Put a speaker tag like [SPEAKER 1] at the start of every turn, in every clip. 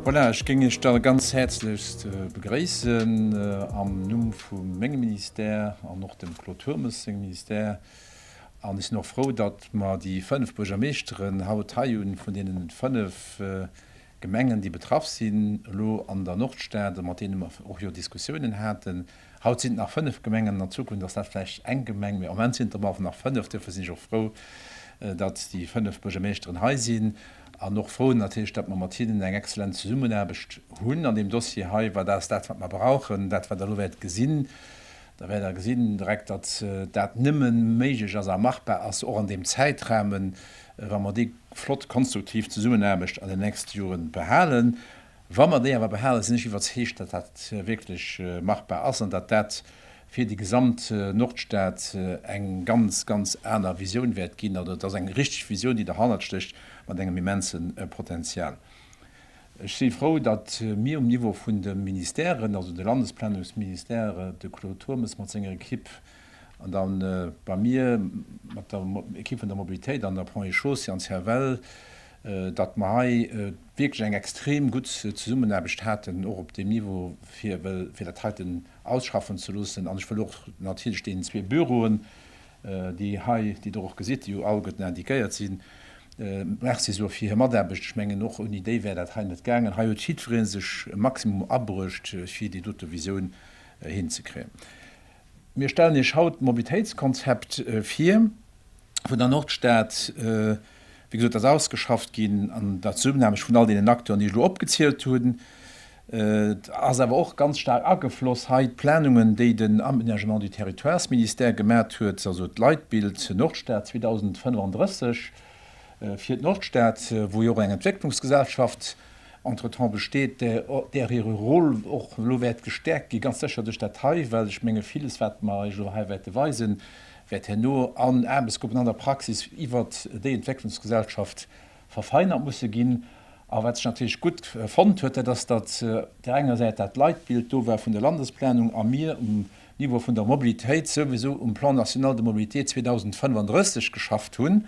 [SPEAKER 1] Voilà, ech géing Iech da ganz häerzlechst begréissen am Numm vu mengem Ministère an och dem Claude Turmes sengem Ministère. An ech sinn och frou, datt mer déi fënnef Buergermeeschteren haut hei hunn, vun deenen et fënnef Gemengen, déi betraff sinn elo an der Nordstad, mat deene mer och jo Diskussiounen haten. Haut sinn et nach fënnef Gemengen, an der Zukunft ass dat vläicht eng Gemeng, mee am Moment sinn et der mer nach fënnef. Duerfir sinn ech och frou, datt déi fënnef Buergermeeschteren hei sinn an och frou natierlech, datt mer mat hinnen eng exzellent Zesummenaarbecht hunn an deem Dossier hei, well dat ass dat, wat mer brauchen. Dat, wat Der elo wäert gesinn, da wäert Der gesinn direkt, datt dat nëmme méiglech ass a machbar ass, och an deem Zäitrahmen, wa mer déi flott konstruktiv Zesummenaarbecht an den nächste Jore behalen, wa mer déi awer behalen, sinn ech iwwerzeegt, datt dat wierklech machbar ass an datt dat fir déi gesamt Nordstad eng ganz, ganz aner Visioun wäert ginn. Also et ass eng richteg Visioun, déi derhannert stécht, mat engem immense Potenzial. Ech si frou, datt mir um Niveau vun de Ministèren, also de Landesplanungsministère, de Claude Turmes mat senger Equipe, An da bei mir mat der Ekipp vun der Mobilitéit an der Ponts et Chaussées an CFL, datt mer hei wierklech eng extrem gutt Zesummenaarbecht haten, och op deem Niveau, fir dat heiten ausschaffen ze loossen. An ech wëll och natierlech deenen zwee Büroen, déi hei, déi Der och gesitt, déi jo all gutt indiquéiert sinn, Merci soe fir hir Mataarbecht. Ech mengen, och ouni déi wär dat hei net gaangen. Hei huet jiddweree sech e Maximum abruecht, fir déi dote Visioun hinzekréien. Mir stellen Iech haut d'Mobilitéitskonzept vir vun der Nordstad. Wéi gesot, ass ausgeschafft ginn, an der Zesummenaarbecht vun all deenen Acteuren, déi ech elo opgezielt hunn. Et ass awer och ganz staark agefloss hei d'Planungen, déi den Aménagement du territoires-Ministère gemat huet, also d'Leitbild Nordstad 2035 fir d'Nordstad, wou jo och eng Entwécklungsgesellschaft, Entretemps besteet, där hire Rôle och elo wäert gestäerkt ginn, ganz sécher duerch dat hei, well ech menge villes, wat mer Iech elo hei wäerte weisen, wäert herno an Aarbechtsgruppen an der Praxis iwwert déi Entwécklungsgesellschaft verfeinert musse ginn. A wat sech natierlech gutt fonnt huet, dat ass, datt op där enger Säit dat Leitbild do war vun der Landesplanung a mir um Niveau vun der Mobilitéit souwisou um Plan national de mobilité 2035 geschafft hunn.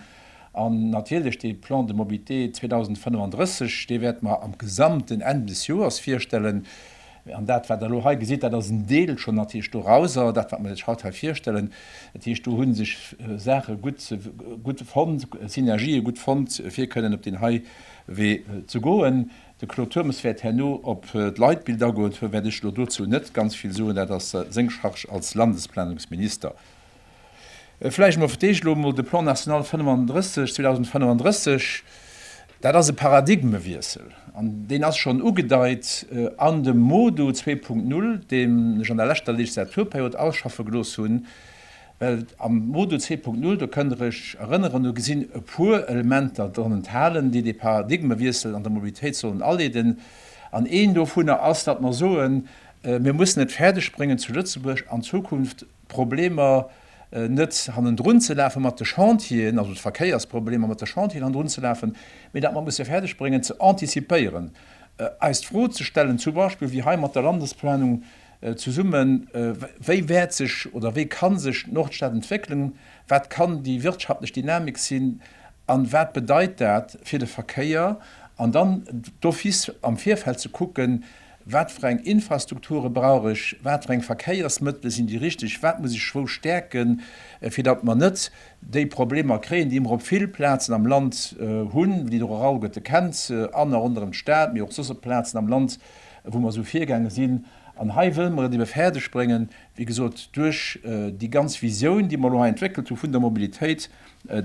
[SPEAKER 1] An natierlech dee Plan de mobilité 2035, dee wäerte mer am Gesamten Enn des Joers virstellen. An dat, wat Der elo hei gesitt, dat ass en Deel schonn natierlech dorauser, dat, wat mer lech haut hei virstellen. Dat heescht, do hu sech Saache gutt fonnt, Synergië gutt fonnt, fir kënnen op deen hei Wee ze goen. De Claude Turmes wäert herno op d'Leitbild agoen, duerfir wäert ech elo dozou net ganz vill soen. Dat ass seng Charge als Landesplanungsminister. Vläicht emol fir d'éischt elo emol de Plan national 35, 2035. Dat ass e Paradigmewiessel an deen ass schonn ugedeit an dem Modo zwee Punkt Null, deen ech an der leschter Legislaturperiod ausschaffe gelooss hunn. Well am Modul 2.0, do kënnt Der Iech erënneren, do sinn e puer Elementer dran enthalen, déi dee Paradigmewiessel an der Mobilitéit sollen aleeden. An een dovunner ass, datt mer soen, Mir mussen et fäerdeg bréngen zu Lëtzebuerg an Zukunft d'Problemer net hannendrun ze lafe mat de Chantieren, also d'Verkéiersproblemer mat de Chantieren hannendrun ze lafen, mee datt mer musse fäerdeg bréngen ze antizipéieren, eis d'Fro ze stellen zum Beispill, wéi hei mat der Landesplanung Zesumme, wéi wäert sech oder wéi kann sech d'Nordstad entwéckelen, wat kann déi wirtschaftlech Dynamik sinn an wat bedeit dat fir de Verkéier? An dann d'office am Virfeld ze kucken, wat fir eng Infrastrukture brauch ech, wat fir eng Verkéiersmëttele sinn déi richteg, wat muss ech wou stäerken, fir datt mer net déi Problemer kréien, déi mer op vill Plazen am Land hunn, déi de Rorail gëtt, de kennt se, an a ronderëm d'Stad, mee och soss op Plazen am Land. wou mer esou virgaange sinn, an hei wëlle mer et ebe fäerdeg bréngen, wéi gesot, duerch déi ganz Visioun, déi mer elo hei entwéckelt hu vun der Mobilitéit,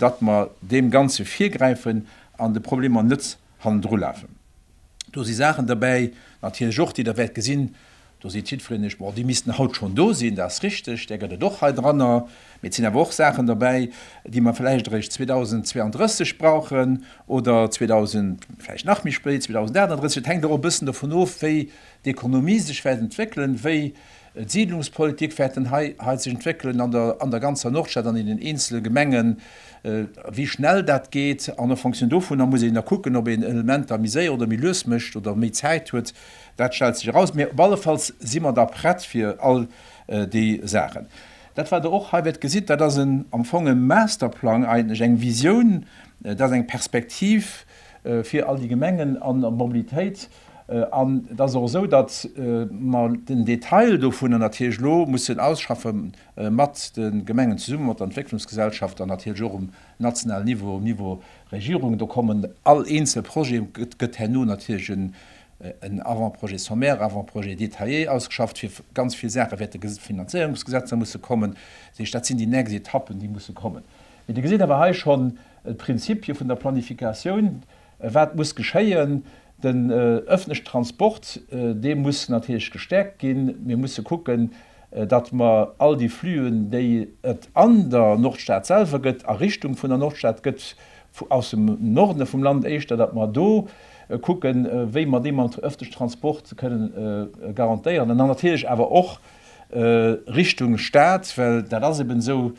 [SPEAKER 1] datt mer deem Ganze virgräifen an de Problemer net hannendrulafen. Do si Saachen derbäi natierlech och, déi Der wäert gesinn, do seet jiddwereen lech, Bon, déi missten haut schonn do sinn. Dat ass richtig, där gëtt et och hei dranner. Mee et sinn awer och Saachen derbäi, déi mer vläicht eréischt 2032 brauchen oder 2000, vläicht nach méi spéit, 2038. Et hänkt och e bëssen dovun of, wéi d'Ekonomie sech wäert entwéckelen, wéi d'Siidlungspolitik wäert dann hei hei sech entwéckelen an der an der ganzer Nordstad an in den eenzele Gemengen, wéi schnell dat geet. An en fonction dovunner muss een da kucken, ob een Elementer méi séier oder méi lues mécht oder méi Zäit huet. Dat stellt sech eraus. Mee op allefalls si mer da prett fir all déi Saachen. Dat wat der och hei wäert gesitt, dat ass en, am Fong e Masterplang eigentlech, eng Visioun, dat ass eng Perspektiv fir all déi Gemengen an der Mobilitéit. An et ass och esou, datt mer den Detail dovunner natierlech elo mussen ausschaffe mat de Gemengen zesummen, mat der Entwécklungsgesellschaft an natierlech och um nationalen Niveau, um Niveau Regierung. Do kommen all eenzel Projet, gëtt herno natierlech e en Avant-projet sommaire, Avant-projet détaillé ausgeschafft, fir ganz vill Saache wäert de Finanzéierungsgesetz nach musse kommen. Dat heescht, dat sinn déi nächst Etappen, déi musse kommen. Mee Dir gesitt awer hei schonn d'Prinzipie vun der Planifikatioun, wat muss geschéien. Den öffentlechen Transport, dee muss natierlech gestäerkt ginn. Mir musse kucken, datt mer all déi Flüen, déi et an der Nordstad selwer gëtt, a Richtung vun der Nordstad gëtt, aus dem Norde vum Land éischter, datt mer do kucken, wéi mer dee mat öffentleche Transport kënnen garantéieren. An dann natierlech awer och Richtung Stad, well dat ass eben esou,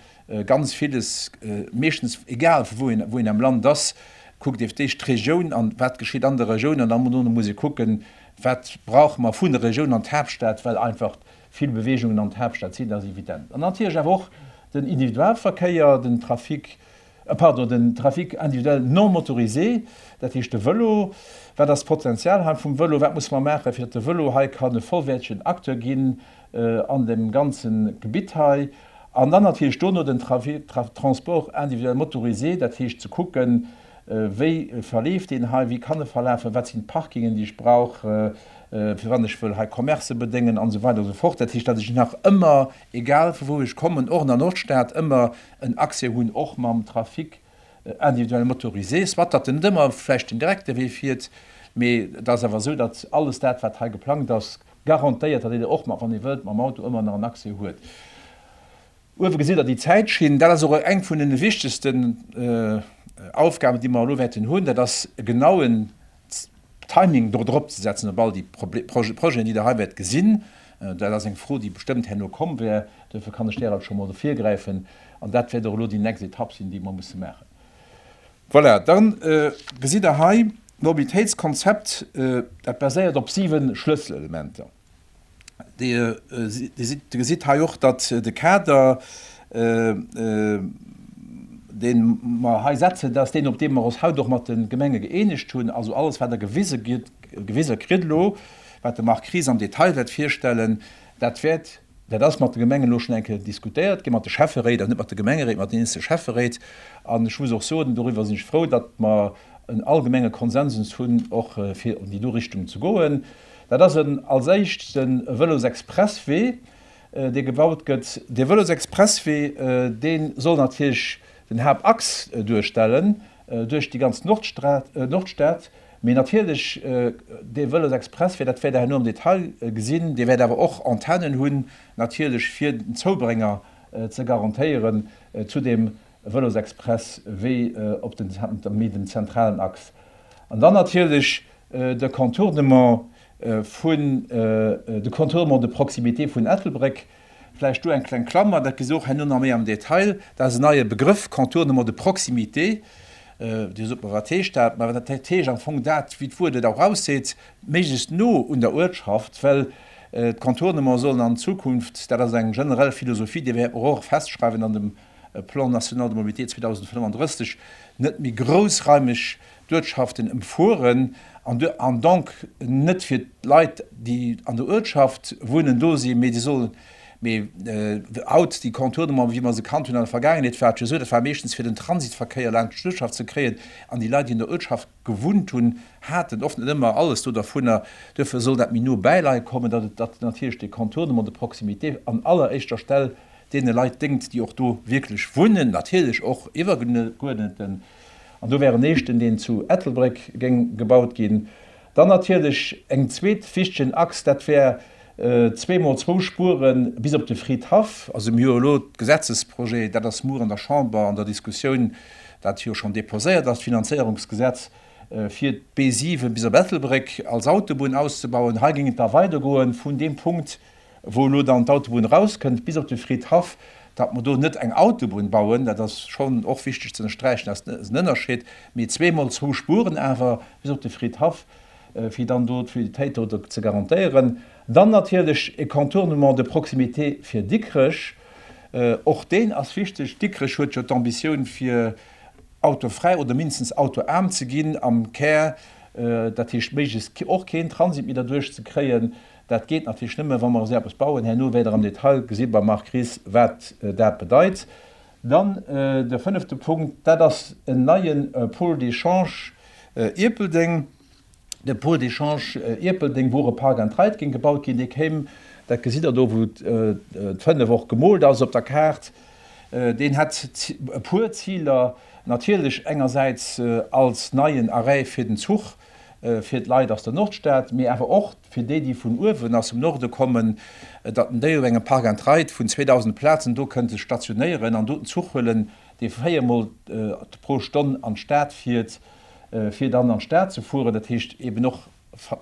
[SPEAKER 1] ganz villes, meeschtens, egal wou een, wou een am Land ass, kuckt ee fir d'éischt d'Regioun an, wat geschitt an der Regioun, an da muss ee kucken, wat brauche mer vun der Regioun an d'Haaptstad, well einfach Vill Beweegungen an d'Haaptstad sinn, dat ass evident. An natierlech awer och den Individualverkéier, den Trafic, pardon, den Trafic individuel non motorisé, dat heescht de Vëlo. Wat ass d'Potenzial hei vum Vëlo? Wat muss mer maachen, fir datt de Vëlo hei kann e vollwäertegen Acteur ginn an deem ganze Gebitt hei? An dann natierlech dono den Transport individuel motorisé, dat heescht ze kucken, Wéi verleeft deen hei? Wéi kann e verlafen? Wat sinn d'Parkingen, déi ech brauch, fir wann ech wëll hei Commercë bedéngen an esou weider an esou fort? Dat heescht, datt ech nach ëmmer, egal vu wou ech kommen, och an der Nordstad, ëmmer en Accès hunn, och mam Trafic individuel motorisé, soit datt en net ëmmer vläicht den direkte Wee fiert, mee et ass awer esou, datt alles dat, wat hei geplangt ass, garantéiert, datt een och, wann ee wëllt, mam Auto ëmmer nach en Accès huet. Uewe gesitt der déi Zäitschinn. Dat ass och eng vun den wichtegsten Aufgaben, déi mer elo wäerten hunn, dat ass e genauen Timing do drop ze setzen op all déi Projeten, déi Der hei wäert gesinn. Dat ass eng Fro, déi bestëmmt herno komm wär, duerfir kann ech där alt scho mol do virgräifen. An dat wäert och elo déi nächst Etapp sinn, déi mer musse maachen. Voilà, da gesitt Der hei d'Mobilitéitskonzept, dat baséiert op siwe Schlësselelementer. Dir gesitt hei och, datt de Kader, dee mer hei setzen, dat ass deen, op dee mer eis haut och mat de Gemenge gëeenegt hunn. Also alles, wat Der gewise kritt elo, wat de Marc Ries am Detail wäert virstellen, dat wäert, dat ass mat de Gemengen elo schonn eng Kéier diskutéiert gi mat de Schäfferéit, also net mat de Gemengeréit, mat den eenzelne Schäfferéit. An ech muss och soen, doriwwer sinn ech frou, datt mer en allgemenge Konsensus hunn, och fir an déi do Richtung ze goen. Dat ass en, als éischt, de Vëlosexpresswee, dee gebaut gëtt. Dee Vëlosexpresswee, dee soll natierlech den Haaptachs duerstellen duerch déi ganz Nordstad. Mee natierlech, dee Vëlosexpresswee, dat wäert Der herno am Detail gesinn, dee wäert awer och Antennen hunn, natierlech fir den Zoubrénger ze garantéieren zu deem e Vëlosexpress wéi op den Zenter méi den zentralen Axe an dann natierlech de Contournement vun de Contournement de proximité vun Ettelbréck. Vläicht do eng kleng Klammer, dat gesi se och herno nach méi am Detail, dat ass en neie Begrëff, Contournement de proximité. Dir sot mer, wat heescht dat? Mä dat heescht am Fong dat, wéi d'Wuert et och ausseet, méiglechst no un der Uertschaft, well d'Contournement sollen an Zukunft, dat ass eng generell Philosophie, déi wär och festschreiwen an dem e Plan national de mobilité 2035, net méi groussraimeg d'Uertschaften ëmfueren an donc net fir d'Leit, déi an der Uertschaft wunnen, do sinn, mee déi sollen, mee haut déi Contournement, wéi mer se kannt hunn an der Vergaangenheet, war et jo esou, dat war meeschtens fir den Transitverkéier laanscht d'Uertschaft ze kréien an déi Leit, déi an der Uertschaft gewunnt hunn, haten oft net ëmmer alles do dervunner. Duerfir soll dat méi no bäi Leit kommen, datt et natierlech de Contournement de proximité an alleréischter Stell deene Leit déngt, déi och do wierklech wunnen, natierlech och iwwergeguerdneten, an do wär en éischten, deen zu Ettelbréck géing gebaut ginn. Dann natierlech eng zweet wichtegen Achs, dat wär zwee mol zwou Spure bis op de Fridhaff. Also mir hu jo elo de Gesetzesprojet, dat ass muer an der Chamber an der Diskussioun, dat jo schonn déposéiert ass, d'Finanzéierungsgesetz, fir d'B7 bis op Ettelbréck als Autobunn auszebauen. Hei géing et da weidergoen vun deem Punkt. Wou elo dann d'Autobunn erauskënnt bis op de Fridhaff, datt mer do net eng Autobunn bauen, dat ass schonn och wichteg ze ënnersträichen, dat ass en Ënnerscheed, mee zweemol zwou Spuren awer bis op de Fridhaff, fir dann do d'Fluiditéit do ze garantéieren. Dann natierlech e Contournement de proximité fir Dikrech, och deen ass wichteg. Dikrech huet jo d'Ambitioun, fir autofräi oder mindestens autoaarm ze ginn am Kär, dat heescht, méiglechst och keen Transit méi derduerch ze kréien. Dat geet natierlech nëmme, wa mer esou eppes bauen. Herno wäert Der am Detail gesi beim Marc Ries, wat dat bedeit. Dann de fënnefte Punkt, dat ass en neie Pôle d'échange Ierpeldeng. De Pôle d'échange Ierpeldeng, wou och e Park and Ride géing gebaut ginn, dee kéim, dat gesitt Der do, wou d'Fënnef och gemoolt ass op der Kaart, deen hätt e puer Ziler, natierlech engersäits als neien Arrêt fir den Zuch, fir d'Leit aus der Nordstad, mee awer och fir déi, déi vun uewen aus dem Norde kommen, datt en déi op engem Park and Ride vun 2.000 Plazen do kënnt sech stationéieren an do den Zuch huelen, dee véier Mol pro Stonn an d'Stad fiert, fir dann an d'Stad ze fueren, dat heescht eeben och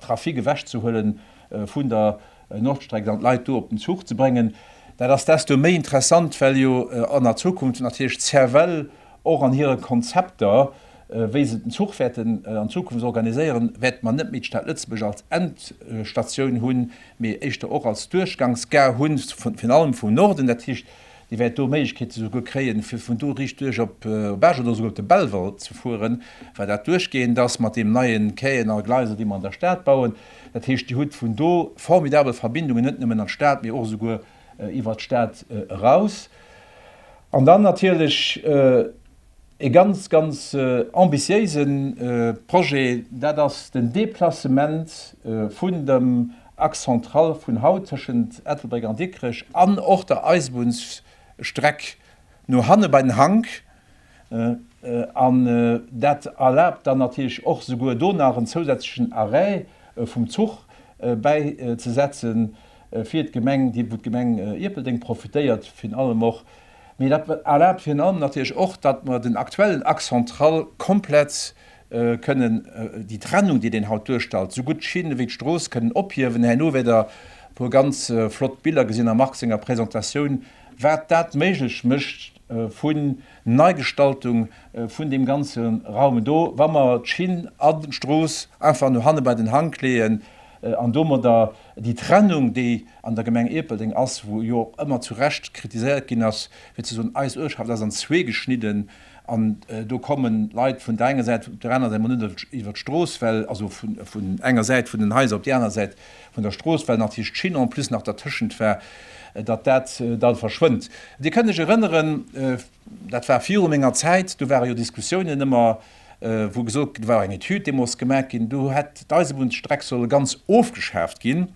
[SPEAKER 1] Trafic ewechzehuele vun der Nordstreck an d'Leit do op den Zuch ze bréngen. Dat ass desto méi interessant, well jo an a Zukunft natierlech d'Cervelle och an hire Konzepter, wéi se den Zuch wäerten an Zukunft organiséieren, wäert mer net méi d'Stad Lëtzebuerg als Endstatioun hunn, mee éischter och als Duerchgangsgare hunn, virun allem vum Norden. Dat heescht, Dir wäert do Méiglechkeet esouguer kréien, fir vun do riicht duerch op Esch oder esouguer op de Belval ze fueren, well dat duerchgehend ass mat deem neie Quai an alle Gleiser, déi mer an der Stad bauen. Dat heescht, Dir hutt vun do formidabel Verbindungen, net nëmmen an d'Stad, mee och esouguer iwwert d'Stad eraus. An dann natierlech e ganz, ganz ambitiéise Projet, dat ass den Deplacement vun dem Axe central vun haut tëschent Ettelbréck an Dikrech an och der Eisebunnsstreck no hanne bei den Hank, An dat erlaabt dann natierlech och souguer do nach en zousätzlechen Arrêt vum Zuch bäizesetzen fir d'Gemeng, dee wou d'Gemeng Ierpeldeng profitéiert virun allem och. Mee dat erlaabt virun allem natierlech och, datt mer den aktuellen Axe central komplett kënnen, déi Trennung déi deen haut duerstalt, sougutt d'Schinn ewéi d'Strooss kënnen ophiewen. Herno wäert Der e puer ganz flott Biller gesinn am Marc senger Presentatioun, wat dat méiglech mécht, vun Neigestaltung vun deem ganze Raum do, wa mer d'Schinn an d'Strooss einfach no hanne bei den Hank leeën an domadder déi Trennung, déi an der Gemeng Ierpeldeng ass, wou jo och ëmmer zu Recht kritiséiert ginn ass, fir ze soen, eis Uertschaft ass an zwee geschnidden an do komme Leit vun der enger Säit op där anerer Säit, mä net iwwer d'Strooss, well also vun enger Säit vun den Haiser op déi aner Säit, vun der Strooss, well natierlech d'Schinn en plus nach dertëschent war, datt dat da verschwënnt. Dir kënnt lech erënneren, dat war viru menger Zäit, do ware jo Diskussiounen ëmmer, wou gesot, do war eng Etüd deemools gemaach ginn, do hätt d'Eisebunnsstreck solle ganz ofgeschaaft ginn.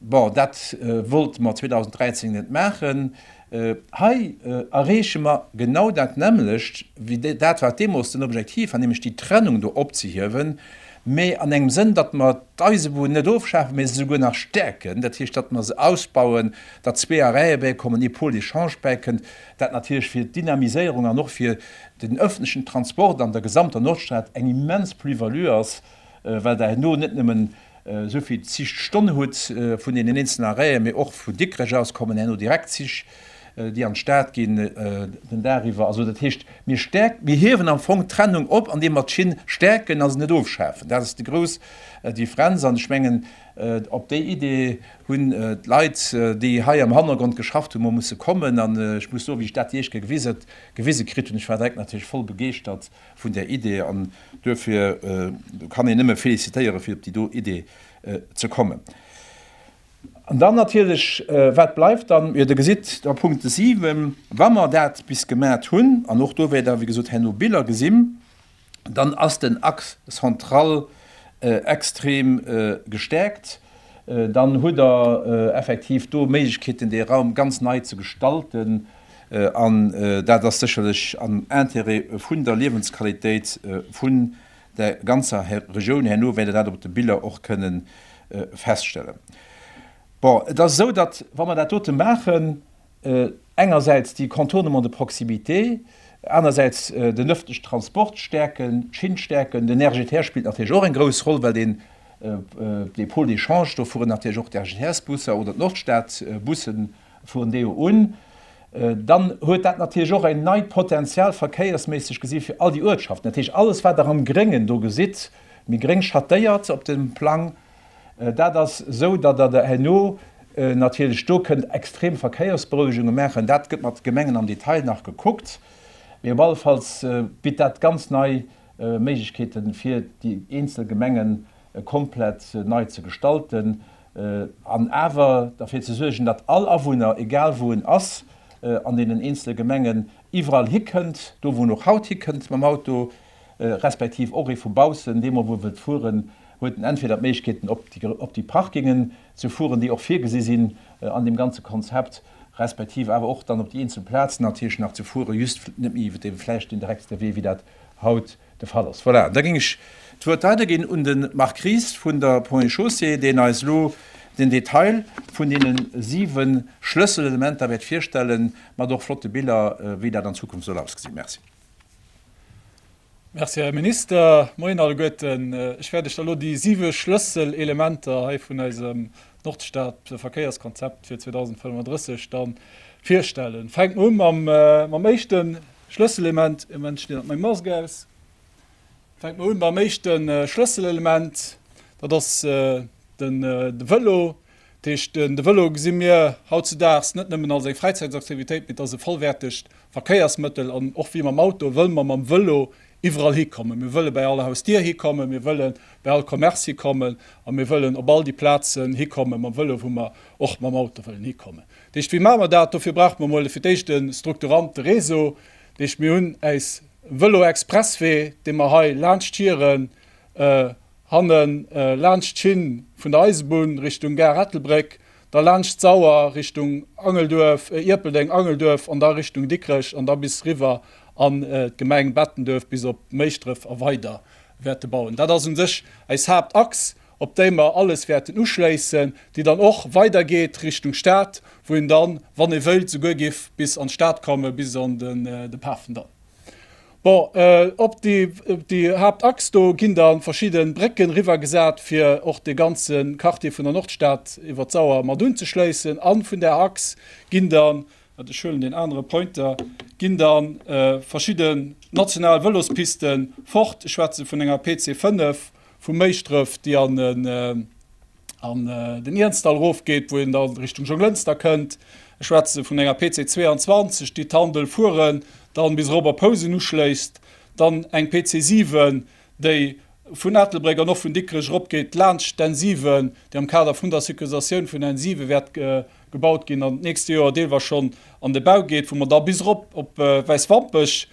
[SPEAKER 1] Bon, dat wollte mer 2013 net maachen. Hei erreeche mer genau dat nämmlecht wéi dat, wat deemools den Objektiv war, nämlech déi Trennung do opzehiewen, mä an engem Sënn, datt mer d'Eisebunn net ofschafen, mä se souguer nach stäerken, dat heescht, datt mer se ausbauen, datt zwee Arrête bäikommen, ee Pôle d'échange bäikënnt, dat natierlech fir d'Dynamiséierung an och fir den öffentlichen Transport an der gesamter Nordstad eng immens Plus-value ass. well Der herno net nëmmen esou vill Zich d'Stonn hutt vun deenen eenzelnen Arrêten, mee och vu Dikrech aus kommen herno direkt Zich, déi an d'Stad ginn den Dag iwwer. Also dat heescht, mir stäerken, mir hiewen am Fong d'Trennung op, andeem mer d'Schinn stäerken a se net ofschafen. Dat ass déi grouss Differenz. An ech mengen, op déi Idee hunn d'Leit, déi hei am Hannergrond geschafft hunn, mol musse kommen. An ech muss soen, wéi ech dat déi éischt Kéier gewise kritt hunn, ech war direkt natierlech voll begeeschtert. vun där Idee an duerfir kann een nëmme félicitéieren, fir op déi do Idee ze kommen. An dann natierlech, wat bleift dann? Jo, Der gesitt am Punkt 7, wa mer dat bis gemat hunn, an och do wäert Der, wéi gesot, herno Biller gesinn, dann ass den Axe central extrem gestärkt. Dann hutt Der effektiv do Méiglechkeeten, dee Raum ganz nei ze gestalten. An dat ass sécherlech am Intérêt vun der Liewensqualitéit vun der ganzer Regioun. Herno wäert Der dat op de Biller och kënne feststellen. Bon, et ass esou, datt, wa mer dat dote maachen, engersäits déi Contournements de proximité, anersäits den öffentlichen Transport stärken, d'Schinn stärken, den RGTR spillt natierlech och eng grouss Roll, well deen Pôle d'échange, do fueren natierlech och d'RGTR-Busser oder d'Nordstadbussen Vun deeho un, dann huet dat natierlech och en neit Potenzial verkéiersméisseg gesi fir all déi Uertschaften. Dat heescht, alles wat Der am Gréngen do gesitt, méi gréng schattéiert op dem Plang, dat ass esou, datt Der der herno natierlech do kënnt extrem Verkéiersberouegunge maachen. Dat gëtt mat de Gemengen am Detail nach gekuckt, mee op allefalls bitt dat ganz nei Méiglechkeeten, fir déi eenzel Gemengen komplett nei ze gestalten. an awer derfir ze suergen, datt all Awunner, egal wou en ass an deenen eenzele Gemengen, iwwerall hikënnt, do wou en och haut hikënnt mam Auto, respektiv och ee vu baussen, dee mol wou e wëllt fueren, huet en entweder d'Méiglechkeeten op déi Parkingen ze fueren, déi och virgesi sinn an deem ganze Konzept, respektiv awer och dann op déi eenzel Plazen natierlech nach ze fueren, just net méi iwwer dee vläicht deen direktste Wee, wéi dat haut de Fall ass. Voilà, da géing ech d'Wuert weiderginn un de Marc Ries vun der Ponts et Chaussées, deen eis elo den Detail vun deene siwe Schlësselelementer wäert virstellen, mat och flotte Biller, wéi dat an Zukunft soll ausgesinn. Merci.
[SPEAKER 2] Merci, Här Minister. Moien alleguerten. Ech wäert lech da elo déi siwe Schlësselelementer hei vun eisem Nordstad-Verkéierskonzept fir 2035 da virstellen. Fänke mer u mam éischte Schlësselelement, e Moment, ech dinn hatt meng Mask aus. Fänke mer un mam éischte Schlësselelement, dat ass de Vëlo. Dat heescht, de Vëlo gesi mir hautzudaags net nëmmen als eng Fräizäitsaktivitéit, mee et ass e vollwäertegt Verkéiersmëttel. An och wéi mam Auto wëlle mer mam Vëlo iwwerall hikommen. Mir wëlle bäi all Hausdier hikommen, mir wëlle bäi all Commerce hikommen a mir wëllen op all déi Plazen hikommen mam Vëlo, wou mer och mam Auto wëllen hikommen. D'eischt wéi maa mer dat? Dofir brauche mer mol fir d'éischt e strukturante Réseau. D'eischt mir hunn äis Vëlo-Expresswee dee mer hei laanscht hiren, hanne laanscht d'Schinn vun der Eisebunn Richtung Gare Ettelbréck, da laanscht d'Sauer Richtung Angelduerf, Ierpeldeng, Angelduerf an da Richtung Dikrech an da bis riwwer an d'Gemeng Bettenduerf bis op Méischdref a weider wäerte bauen. Dat ass un sech äis Haaptachs op déi mer alles wäerten uschléissen, déi dann och weidergeet Richtung Stad, wou een dann, wann ee wëilt, souguer géif bis an d'Stad kommen, bis an de Pafendall. Bon, op déi Haaptachs do ginn da verschidde Brécken riwwergesat, fir och dee ganze Quartier vun der Nordstad iwwer d'Sauer mat unzeschléissen. A vun där Achs ginn dann, wat, ech huelen deen anere Pointer, ginn da verschidde national Vëlospisten fort. Ech schwätze vun enger PC 5, Vu Méischdrëf, déi an den Iernzdall erofgeet, wou een da Richtung Jonglënster kënnt. Ech schwätze vun enger PC 22, déi d'Handel fueren dann bis erop a Pousem uschléisst. Dann eng PC 7, déi vun Ettelbréck an och vun Dikrech eropgeet laanscht d'N7, déi am Kader vun der Sécurisatioun vun der N7 wäert gebaut ginn an d'nächste Joer deelweis schonn an de Bau geet, wou mer da bis erop op Wäiswampech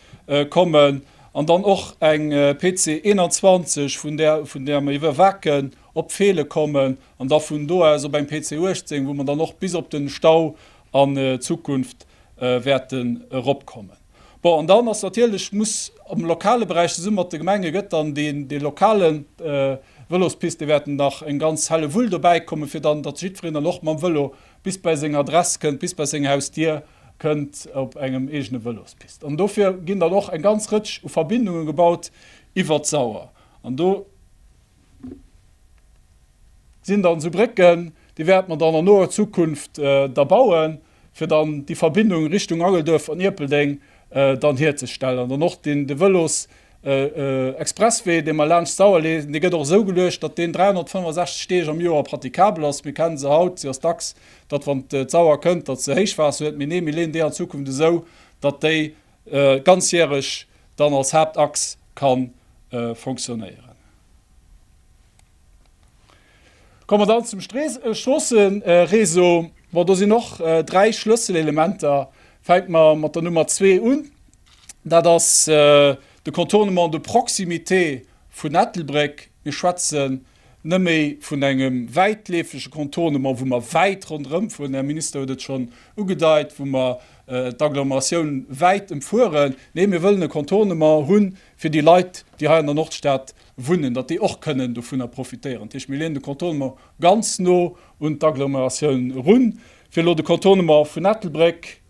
[SPEAKER 2] kommen an dann och eng PC 21, vun där vun där mer iwwer Wacken op Feele kommen an da vun do aus op eng PC 18, wou mer dann och bis op de Stau an Zukunft wäerten eropkommen. Bon, an dann ass natierlech, muss am lokale Beräich, zesumme mat de Gemenge gëtt dann dee lokale Vëlospist, do wäerten nach eng ganz Hellewull dobäi kommen, fir dann, datt jiddwereen dann och mam Vëlo bis bei seng Adress kënnt, bis bei seng Hausdier kënnt op engem eegene Vëlospist. An dofir ginn dann och eng ganz Rëtsch u Verbindunge gebaut iwwer d'Sauer. An do sinn dann esou Brécken, déi wäerte mer dann an noer Zukunft da bauen, fir dann déi Verbindung Richtung Angelduerf an Ierpeldeng dann hierzestellen. Dann och deen, de Vëlos Expresswee, dee mer laanscht d'Sauer leeën, dee gëtt och esou geluecht, datt deen 365 Deeg am Joer pratikabel ass. Mir kenne se haut, se ass dacks, datt wann d'Sauer kënnt, datt se Héichwaasser huet, mee nee, mir leeën déi an Zukunft esou, datt déi ganzjäreg dann als Haaptachs ka fonctionnéieren. Komme mer dann zum Stroossereseau. Bon, do sinn och dräi Schlësselelementer. Fänke mer mat der Nummer zwee un. Dat ass de Contournement de proximité vun Ettelbréck. Mir schwätze net méi vun engem wäitleefege Contournement, wou mer wäit ronderëm fueren, de Här Minister huet et schonn ugedeit, wou mer d'Agglomeratioun wäit ëmfueren, nee, mir wëllen e Contournement hu fir déi Leit, déi hei an der Nordstad wunnen, datt déi och kënnen dovunner profitéieren. Dat heescht, mir leeën de Contournement ganz no un d'Agglomeratioun eru. Fir elo de Contournement vun Ettelbréck,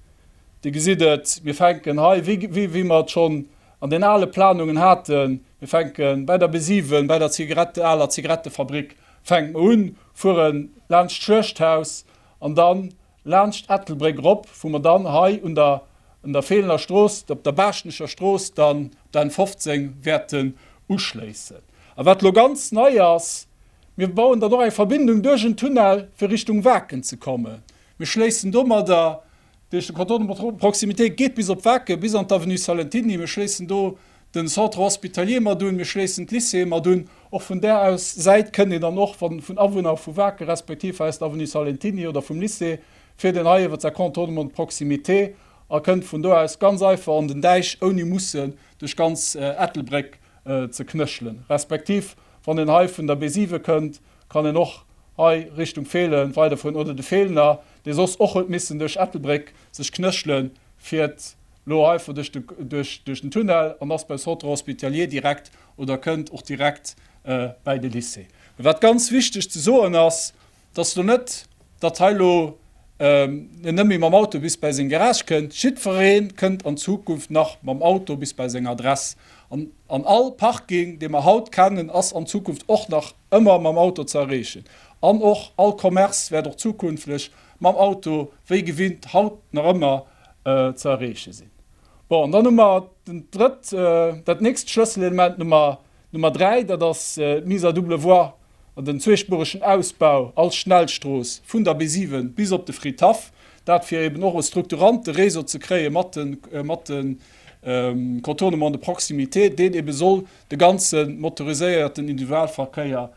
[SPEAKER 2] Dir gesitt et, mir fänken hei, wéi mer et schonn An den ale Planungen haten, Mir fänken bäi der Besiven, bäi der Zigarette, aler Zigarettefabrik fänkt mer un, fueren laanscht d'Schuechthaus an dann laanscht d'Ettelbréck erop, wou mer dann hei un der un der Feelener Strooss, op der Baaschtnecher Strooss dann op der N15 wäerten uschléissen. A wat elo ganz nei ass, Mir bauen dann och eng Verbindung duerch en Tunnel, fir Richtung Waken ze kommen. Mir schléissen domadder Déi éischte Cordon de proximité geet bis op Waacke, bis an d'Avenue Salentiny. Mir schléissen do den Centre hospitalier mat un, mir schléissen d'Lycéeë mat un. Och vun där aus Säit kënnt een dann och, wa vun Awunner vu Waacke respektiv aus der Avenue Salentiny oder vum Lycée, fir deen hei iwwert säi Contournement de proximité a kënnt vun do aus ganz einfach an den Deich, ouni mussen duerch ganz Ettelbréck ze knëschelen, respektiv wann een hei vun der Bézive kënnt, kann een och hei Richtung Feelen weiderfueren oder de Feelener, dee soss och huet missen duerch Ettelbréck sech knëschelen, fiert lo heivo duerch den Tunnel an ass beim Centre hospitalier direkt oder kënnt och direkt bäi de Lycée. Wat ganz wichteg ze soen ass, Dass lo net, datt hei lo en net méi mam Auto bis bei seng Garage kënnt. Jiddweree kënnt an Zukunft nach mam Auto bis bei seng Adress. An all Parking, dee mer haut kennen, ass an Zukunft och nach ëmmer mam Auto ze erreechen. An och all Commerce wäert och zukünftlech mam Auto wéi gewinnt haut nach ëmmer ze erreeche sinn. Bon, an dann hu mer dat nächst Schlësselelement, hu mer D'Nummer 3, dat ass d'Mise à double voie an den zweespueregen Ausbau als Schnellstrooss vun der B7 bis op de Fridhaff. Dat fir eben och e strukturante Réseau ze kréie mat de Contournement de proximité, deen ebe soll de ganze motoriséierten Individualverkéier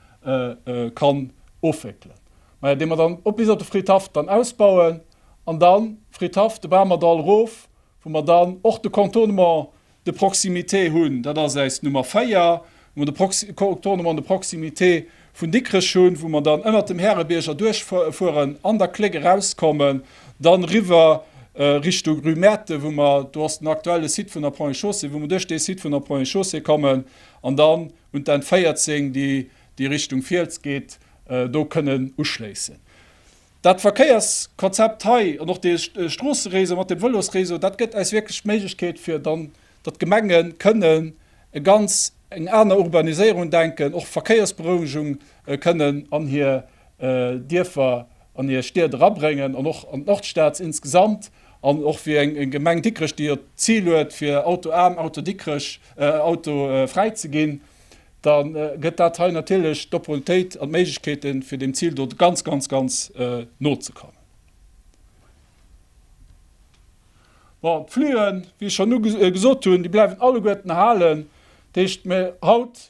[SPEAKER 2] kann ofwéckelen. Majo, dee mer dann och bis op de Fridhaff dann ausbauen an dann Fridhaff, de Bamerdall erof, wou mer dann och de Contournement de proximité hunn, dat ass äis Nummer 4, wou mer de Prox Contournement de proximité vun Dikrech hunn, wou mer dann ënnert dem Härebierg erduerchfueren, an der Clé erauskommen, dann riwwer Richtung rue Märten, wou mer, do ass den aktuelle Site vun der Ponts et Chaussées, wou mer duerch dee Site vun der Ponts et Chaussées kommen an dann un d'N 14, déi Richtung Fiels geet, do kënnen uschléissen. Dat Verkéierskonzept hei an och dee Stroosseréseau mat dem Vëlosréseau, dat gëtt eis wierklech d'Méiglechkeet, fir dann, datt d'Gemenge kënnen e ganz, eng aner Urbaniséierung denken, och Verkéiersberouegung kënnen an hir Dierfer, an hir Stied erabréngen an och an d'Nordstad insgesamt. An och fir eng Gemeng Dikrech, déi jo d'Zil huet, fir autoaarm, autodikrech, autofräi ze ginn. da gëtt dat hei natierlech d'Opportunitéit an d'Méiglechkeete fir deem Zil do ganz, ganz, ganz no ze kommen. Bon, d'Flüen, wéi ech schonn gesot hunn, déi bleiwen alleguerten erhalen. Dat heescht, mir haut,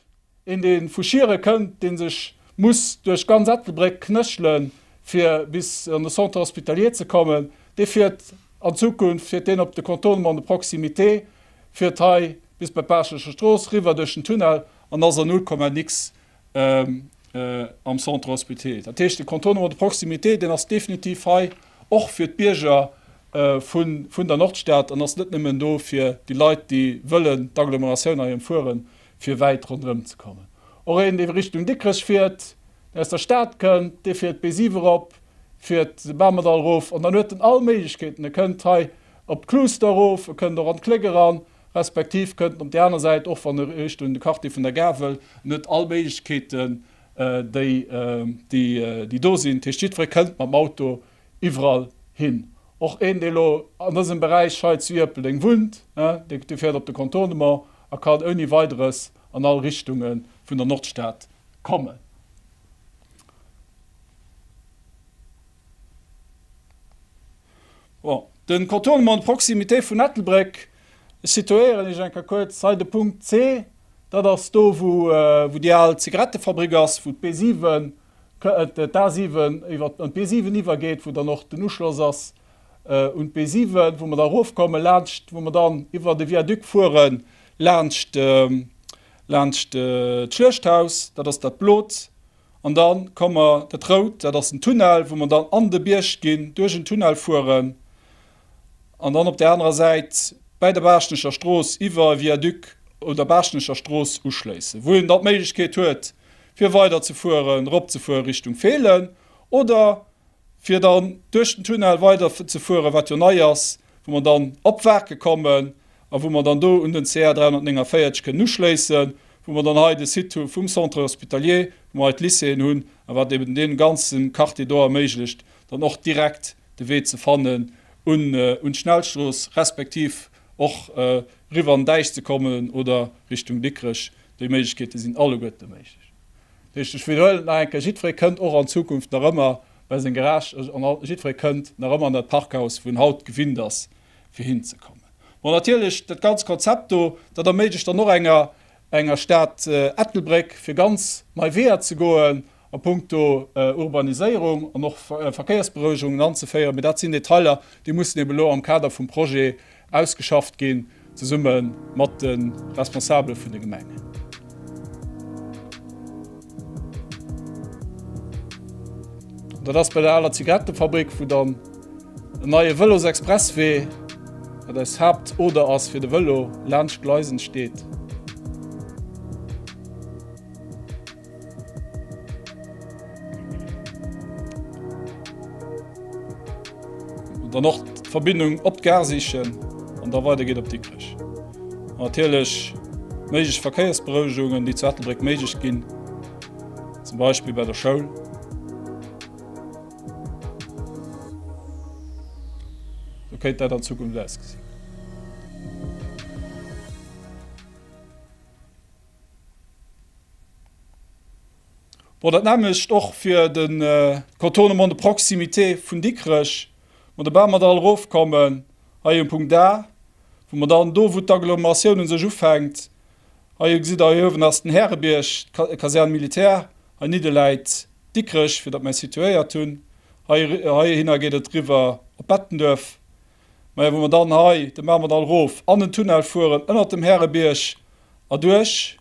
[SPEAKER 2] een dee vu Schieren kënnt, dee sech muss duerch ganz Ettelbréck knéchele fir bis an de Centre hospitalier ze kommen, dee fiert an Zukunft, fiert deen op de Contournement de proximité, Fiert hei bis bei d'Baaschtnecher Strooss riwwer duerch den Tunnel an ass a 0, nix am Centre Hospitier. Dat heescht, de Contournement de proximité, deen ass definitiv hei och fir d'Bierger vun der Nordstad an ass net nëmmen do fir déi Leit, déi wëllen d'Agglomeratioun hei ëmfueren, fir wäit ronderëm ze kommen. Och een, dee Richtung Dikrech fiert, deen aus der Stad kënnt, dee fiert d'B7 erop, fiert de Bamerdall erof an dann huet en all Méiglechkeeten. E kënnt hei Op d'Klooster erof, e kënnt och an d'Kléck eran, respektiv kënnt op déi aner Säit, och wann e Richtung de Quartier vun der Gare wëll. En huet all Méiglechkeeten, déi do sinn. Dat heescht, jiddweree kënnt mam Auto iwwerall hin. Och een, dee elo an dësem Beräich hei zu Ierpeldeng wunnt, dee fäert op de Contournement a kann ouni Weideres an all Richtunge vun der Nordstad kommen. Den Contournement de proximité vun Ettelbréck, ech situéieren Iech enker kuerz hei de Punkt C, dat ass do wou déi al Zigarettefabrik ass, wou d'B7, d'A7 iwwer an d'B7 iwwergeet, wou dann och den Uschloss ass un d'B7, wou mer da erofkommen laanscht, wou mer dann iwwer de Viaduc fuere laanscht d'Schluechthaus, dat ass dat blot. An dann komme mer, dat rout, dat ass den Tunnel, wou mer dann an de Bierg ginn, duerch en Tunnel fueren an dann op där anerer Säit bäi der Baaschtnecher Strooss iwwer e Viaduc un der Baaschtnecher Strooss uschléissen, wou een dann d'Méiglechkeet huet, fir weiderzefueren, eropzefuere Richtung Feelen oder fir dann duerch den Tunnel weiderzefueren, wat jo nei ass, wou mer dann op Waarke kommen a wou mer dann do un den CR 349 kënnen uschléissen, wou mer dann hei de Site hu vum Centre hospitalier, wou mer hei d'Lycéeën hunn a wat eben dee ganze Quartier do erméiglecht, dann och direkt de Wee ze fannen un d'Schnellstrooss, respektiv och eriwwer an d'Esch ze kommen oder Richtung Dikrech. Déi Méiglechkeete sinn alleguerte méiglech. Richteg, ech widderhuelen et nach eng Kéier, Jiddweree kënnt och an Zukunft nach ëmmer bei seng Garage an jiddweree kënnt nach ëmmer an dat Parkhaus, wou en haut gewinnt ass, fir hinzekommen. Bon, natierlech, dat ganz Konzept do, dat erméiglecht dann och enger enger Stad Ettelbréck, fir ganz nei Weeër ze goen a punkto Urbaniséierung an och Verkéiersberouegungen anzeféieren. Mee dat sinn Detailer, déi mussen eeben elo am Kader vum Projet Ausgeschafft ginn, zesumme mat de Responsabele vun de Gemengen. Dat ass bei der aler Zigarettefabrik, wou dann en neie Vëlosexpresswee, wat eis Haaptoder ass fir de Vëlo, laanscht d'Gleisen steet. Dann och d'Verbindung op d'Gare sichen an da weider geet op Dikrech. Natierlech méiglech Verkéiersberouegungen, déi zu Ettelbréck méiglech ginn, zum Beispill bei der Schoul. kéint dat an Zukunft ausgesinn. Bon, dat nämmlecht och fir de Contournement de proximité vun Dikrech, ma dobäi mer da erofkommen hei um Punkt A, wou mer dann do, wou d'Agglomeratioun u sech ufänkt, hei gesitt Der, hei uewen ass den Härebierg, d'Caserne militaire, hei nidde läit Dikrech, fir datt mer situéiert hunn, heihinner geet et riwwer op Bettenduerf. Majo wa mer dann hei, da maache mer dann rof an den Tunnel fueren, ënnert dem Härebierg erduerch.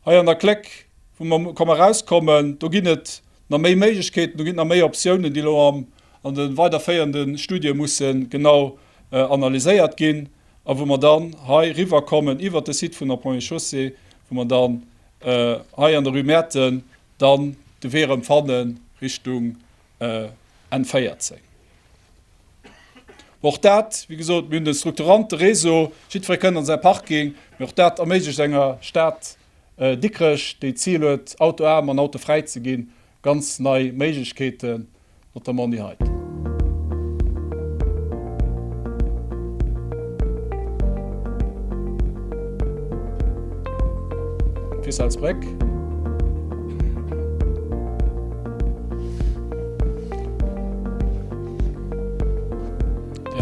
[SPEAKER 2] Hei an der Kléck wou mer komme rauskommen, do ginn et na méi Méiglechkeeten, do ginn et na méi Optiounen, déi elo am an de weiderféierende Studie musse genau analyséiert ginn a wou mer dann hei riwwerkommen iwwert de Site vun der Première Chaussée, wou mer dann hei an der Rue Mäerten dann de Wee erëm fanne Richtung N14. Och dat, wéi gesot, mir hunn de strukturante Réseau, jiddweree kënnt an säi Parking, mee och dat erméiglecht enger Stad Dikrech, déi d'Zil huet, autoaarm an autofräi ze ginn, ganz nei Méiglechkeeten, notamment déi heiten. Fir Selzbréck.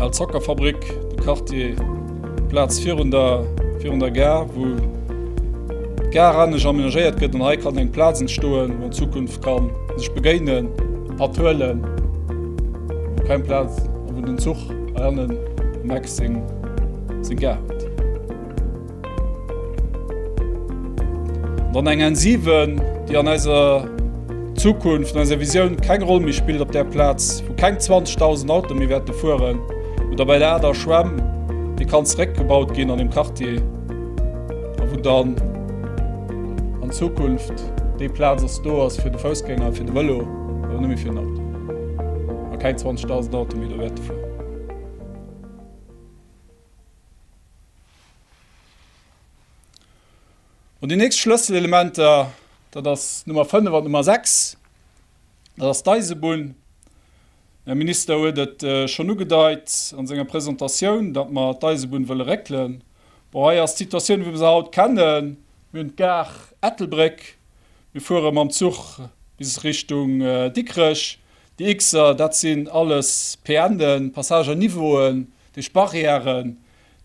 [SPEAKER 2] Al Zockerfabrik, de Quartier, d'Plaz virun der, virun der Gare, wou d'Gare anescht amenagéiert gëtt an hei kann eng Plaz entstoen, wou an Zukunft ka sech begéinen, Patt huelen, wou keng Plaz a wou den Zuch hei hannen um Eck seng Gare huet. Dann eng Ensiven, déi an eiser Zukunft, an eiser Visioun keng Roll méi spillt, op där Plaz, wou keng 20.000 Autoe méi wäerte fueren, oder bei der Ader Schwämm, déi kann zeréckgebaut ginn an dem Quartier, a wou dann an Zukunft déi Plaz ass, do ass fir de Foussgänger a fir de Vëlo, awer net méi fir den Auto, a keng 20.000 Autoe méi do wäerte fueren. An déi nächst Schlësselelementer, dat ass d'Nummer 5 an d'Nummer 6, dat ass d'Eisebunn. Den Här Minister huet et schonn ugedeit a senger Presentatioun, datt mer d'Eisebunn wëlle réckelen. Bon, hei ass d'Situatioun, wéi mer se haut kennen, Mir hunn d'Gare Ettelbréck, mir fuere mam Zuch bis Richtung Dikrech. Déi X-er, dat sinn alles PNen, Passage à niveauen, dat heescht Barrièren,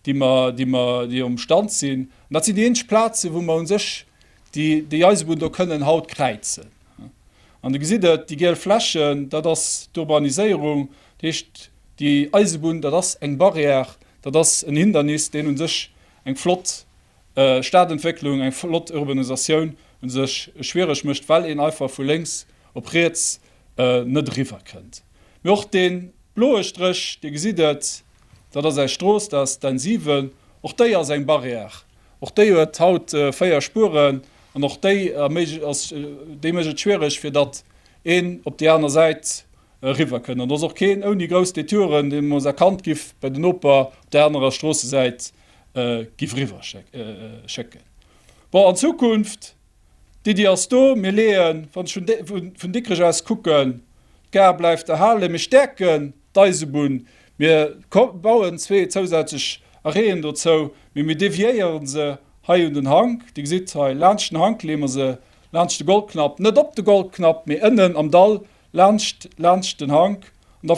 [SPEAKER 2] déi mer, déi mer, déi am Stand sinn, an dat sinn déi eenzeg Plazen, wou mer u sech déi, déi Eisebunn do kënnen haut kräizen. An Dir gesitt et, déi giel Flächen, dat ass d'Urbaniséierung, dat heescht, déi Eisebunn, dat ass eng Barrière, dat ass en Hindernis, deen u sech eng flott Stadentwécklung, eng flott Urbanisatioun u sech schwiereg mécht, well een einfach vu lénks op riets net eriwwerkënnt. Mee och dee bloe Stréch, Dir gesitt et, dat ass eis Strooss, dat ass d'N 7, och déi ass eng Barrière, och déi huet haut véier Spueren an och déi ass, déi mécht et schwiereg fir datt een op déi aner Säit eriwwer kënnt an do ass och keen ouni grouss Detouren, deen ons erkannt giff bei den Noper op där anerer Stroossesäit giff eriwwer schécken. Bon, an Zukunft? D'Iddi ass do, mir leeën, wann ech vun Dikrech aus kucken, d'Gare bleift erhalen, mir stäerken d'Eisebunn, mir bauen zwee zousätzlech Arrêten dozou, mee mir deviéiere se hei un den Hank. Dir gesitt hei, laanscht den Hank leeë mer se, laanscht de Goldknapp, net op de Goldknapp, mee ënnen am Dall laanscht, laanscht den Hank. An da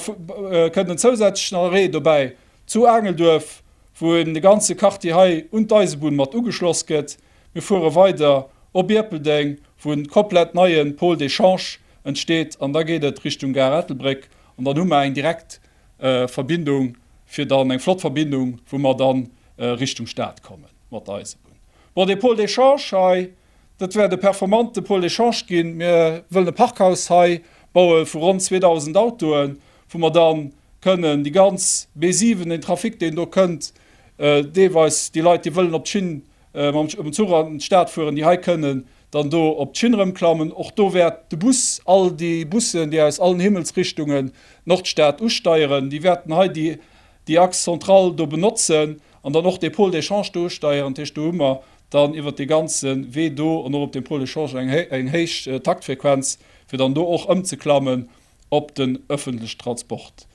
[SPEAKER 2] kënnt en zousätzlechen Arrêt dobäi zu Aangelduerf, wou en de ganze Quartier hei un d'Eisebunn mat ugeschloss gëtt. Mir fuere weider op Ierpeldeng, wou en komplett neie Pôle d'échange entsteet an da geet et Richtung Gare Ettelbréck an dann hu mer eng direkt Verbindung fir dann, eng flott Verbindung, wou mer dann Richtung Stad komme mat der Eisebunn. Bon, dee Pôle d'échange hei, dat wäert e performante Pôle d'échange ginn. Mir wëllen e Parkhaus hei baue vu ronn 2.000 Autoen, wou mer dann kënnen déi ganz B7, den Trafic, deen do kënnt, deelweis déi Leit, déi wëllen op d'Schinn mam Zuch an d'Stad fueren, déi hei kënnen dann do op d'Schinn erëmklammen. Och do wäert de Bus, all déi Bussen, déi aus allen Himmelsrichtungen Nordstad usteieren, déi wäerten hei déi Axe centrale do benotzen an dann och dee Pôle d'échange do usteieren. Dat heescht, do hu mer dann iwwert dee ganze Wee do an och op deem Pôle d'échange eng héich Taktfrequenz, fir dann do och ëmzeklammen. op den öffentliche Transport,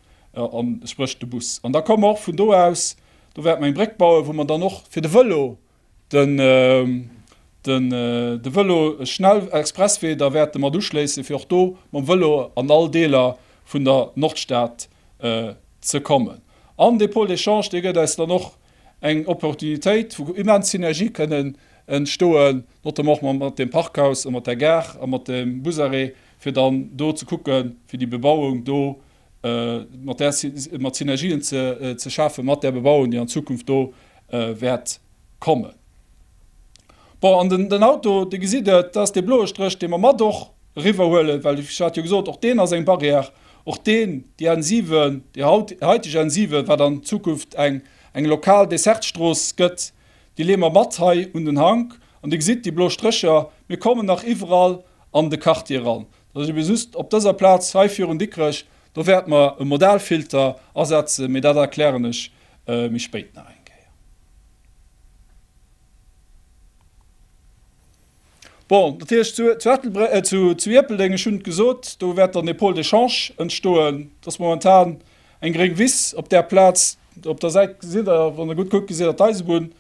[SPEAKER 2] spréch de Bus. An da ka mer och vun do aus, do wäerte mer eng Bréck bauen, wou mer dann och fir de Vëlo, de Vëlo-Schnellexpresswee da wäerte mat uschléissen, fir och do mam Vëlo an all Deeler vun der Nordstad ze kommen. An dee Pôle d'échange, dee gëtt eis dann och eng Opportunitéit, wou immens Synergië kënnen entstoen, notamment och mat deem Parkhaus a mat der Gare a mat dem Busarrêt, fir dann do ze kucke fir déi Bebauung do mat där, mat Synergien ze schafe mat där Bebauung, déi an Zukunft do wäert kommen. Bon, an den, den Auto, Dir gesitt et, dat ass dee bloe Stréch, dee mer mat och eriwwerhuelen, well ech hat jo gesot, och deen ass eng Barrière. Och deen, déi N7, déi haut, heiteg N7, wat an Zukunft eng, eng lokal Dessertstrooss gëtt, déi leeë mer mat hei un den Hank. An Dir gesitt déi blo Strécher, mir kommen nach iwwerall an de Quartier eran. Dat ass eben just op dëser Plaz hei virun Dikrech, do wäerte mer e Modalfilter asetzen, mee dat erklären ech méi spéit nach eng Kéier. Bon, dat heescht, zu, zu, Ettelbre äh, zu, zu Ierpeldeng, ech hunn et gesot, do wäert dann e Pôle d'échange entstoen. Dat ass momentan eng gréng Wiss op där Plaz. Op der Säit gesitt Der, wann Der gutt kuckt, gesitt Der d'Eisebunn.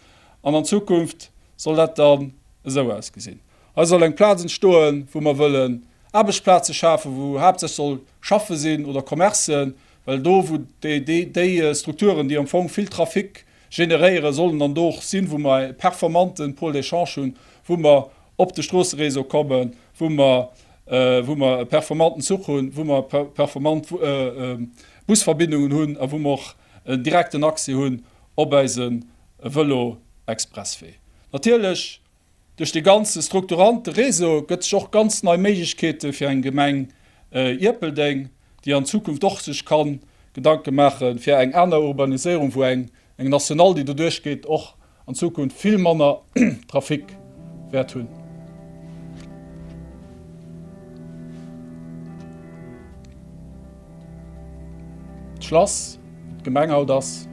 [SPEAKER 2] An an Zukunft soll dat dann esou ausgesinn. Hei soll eng Plaz entstoen, wou mer wëllen Aarbechtsplaze schafen, wou haaptsächlech soll schaffe sinn oder Commercen, well do, wou déi, déi, déi Strukturen, déi am Fong vill Trafic generéieren, sollen dann do och sinn, wou mer e performanten Pôle d'échange hunn, wou mer op de Stroosseréseau kommen, wou mer, wou mer e performanten Zuch hunn, wou mer performant Busverbindungen hunn a wou mer och en direkten Accès hunn op eise Vëlo-Expresswee. Natierlech. Duerch de ganze strukturante Réseau gëtt sech och ganz nei Méiglechkeete fir eng Gemeng Ierpeldeng, déi an Zukunft och sech ka Gedanke maache fir eng aner Urbaniséierung, wou eng National, déi doduerch geet, och an Zukunft vill manner Trafic wäert hunn. D'Schlass, wou d'Gemeng haut ass.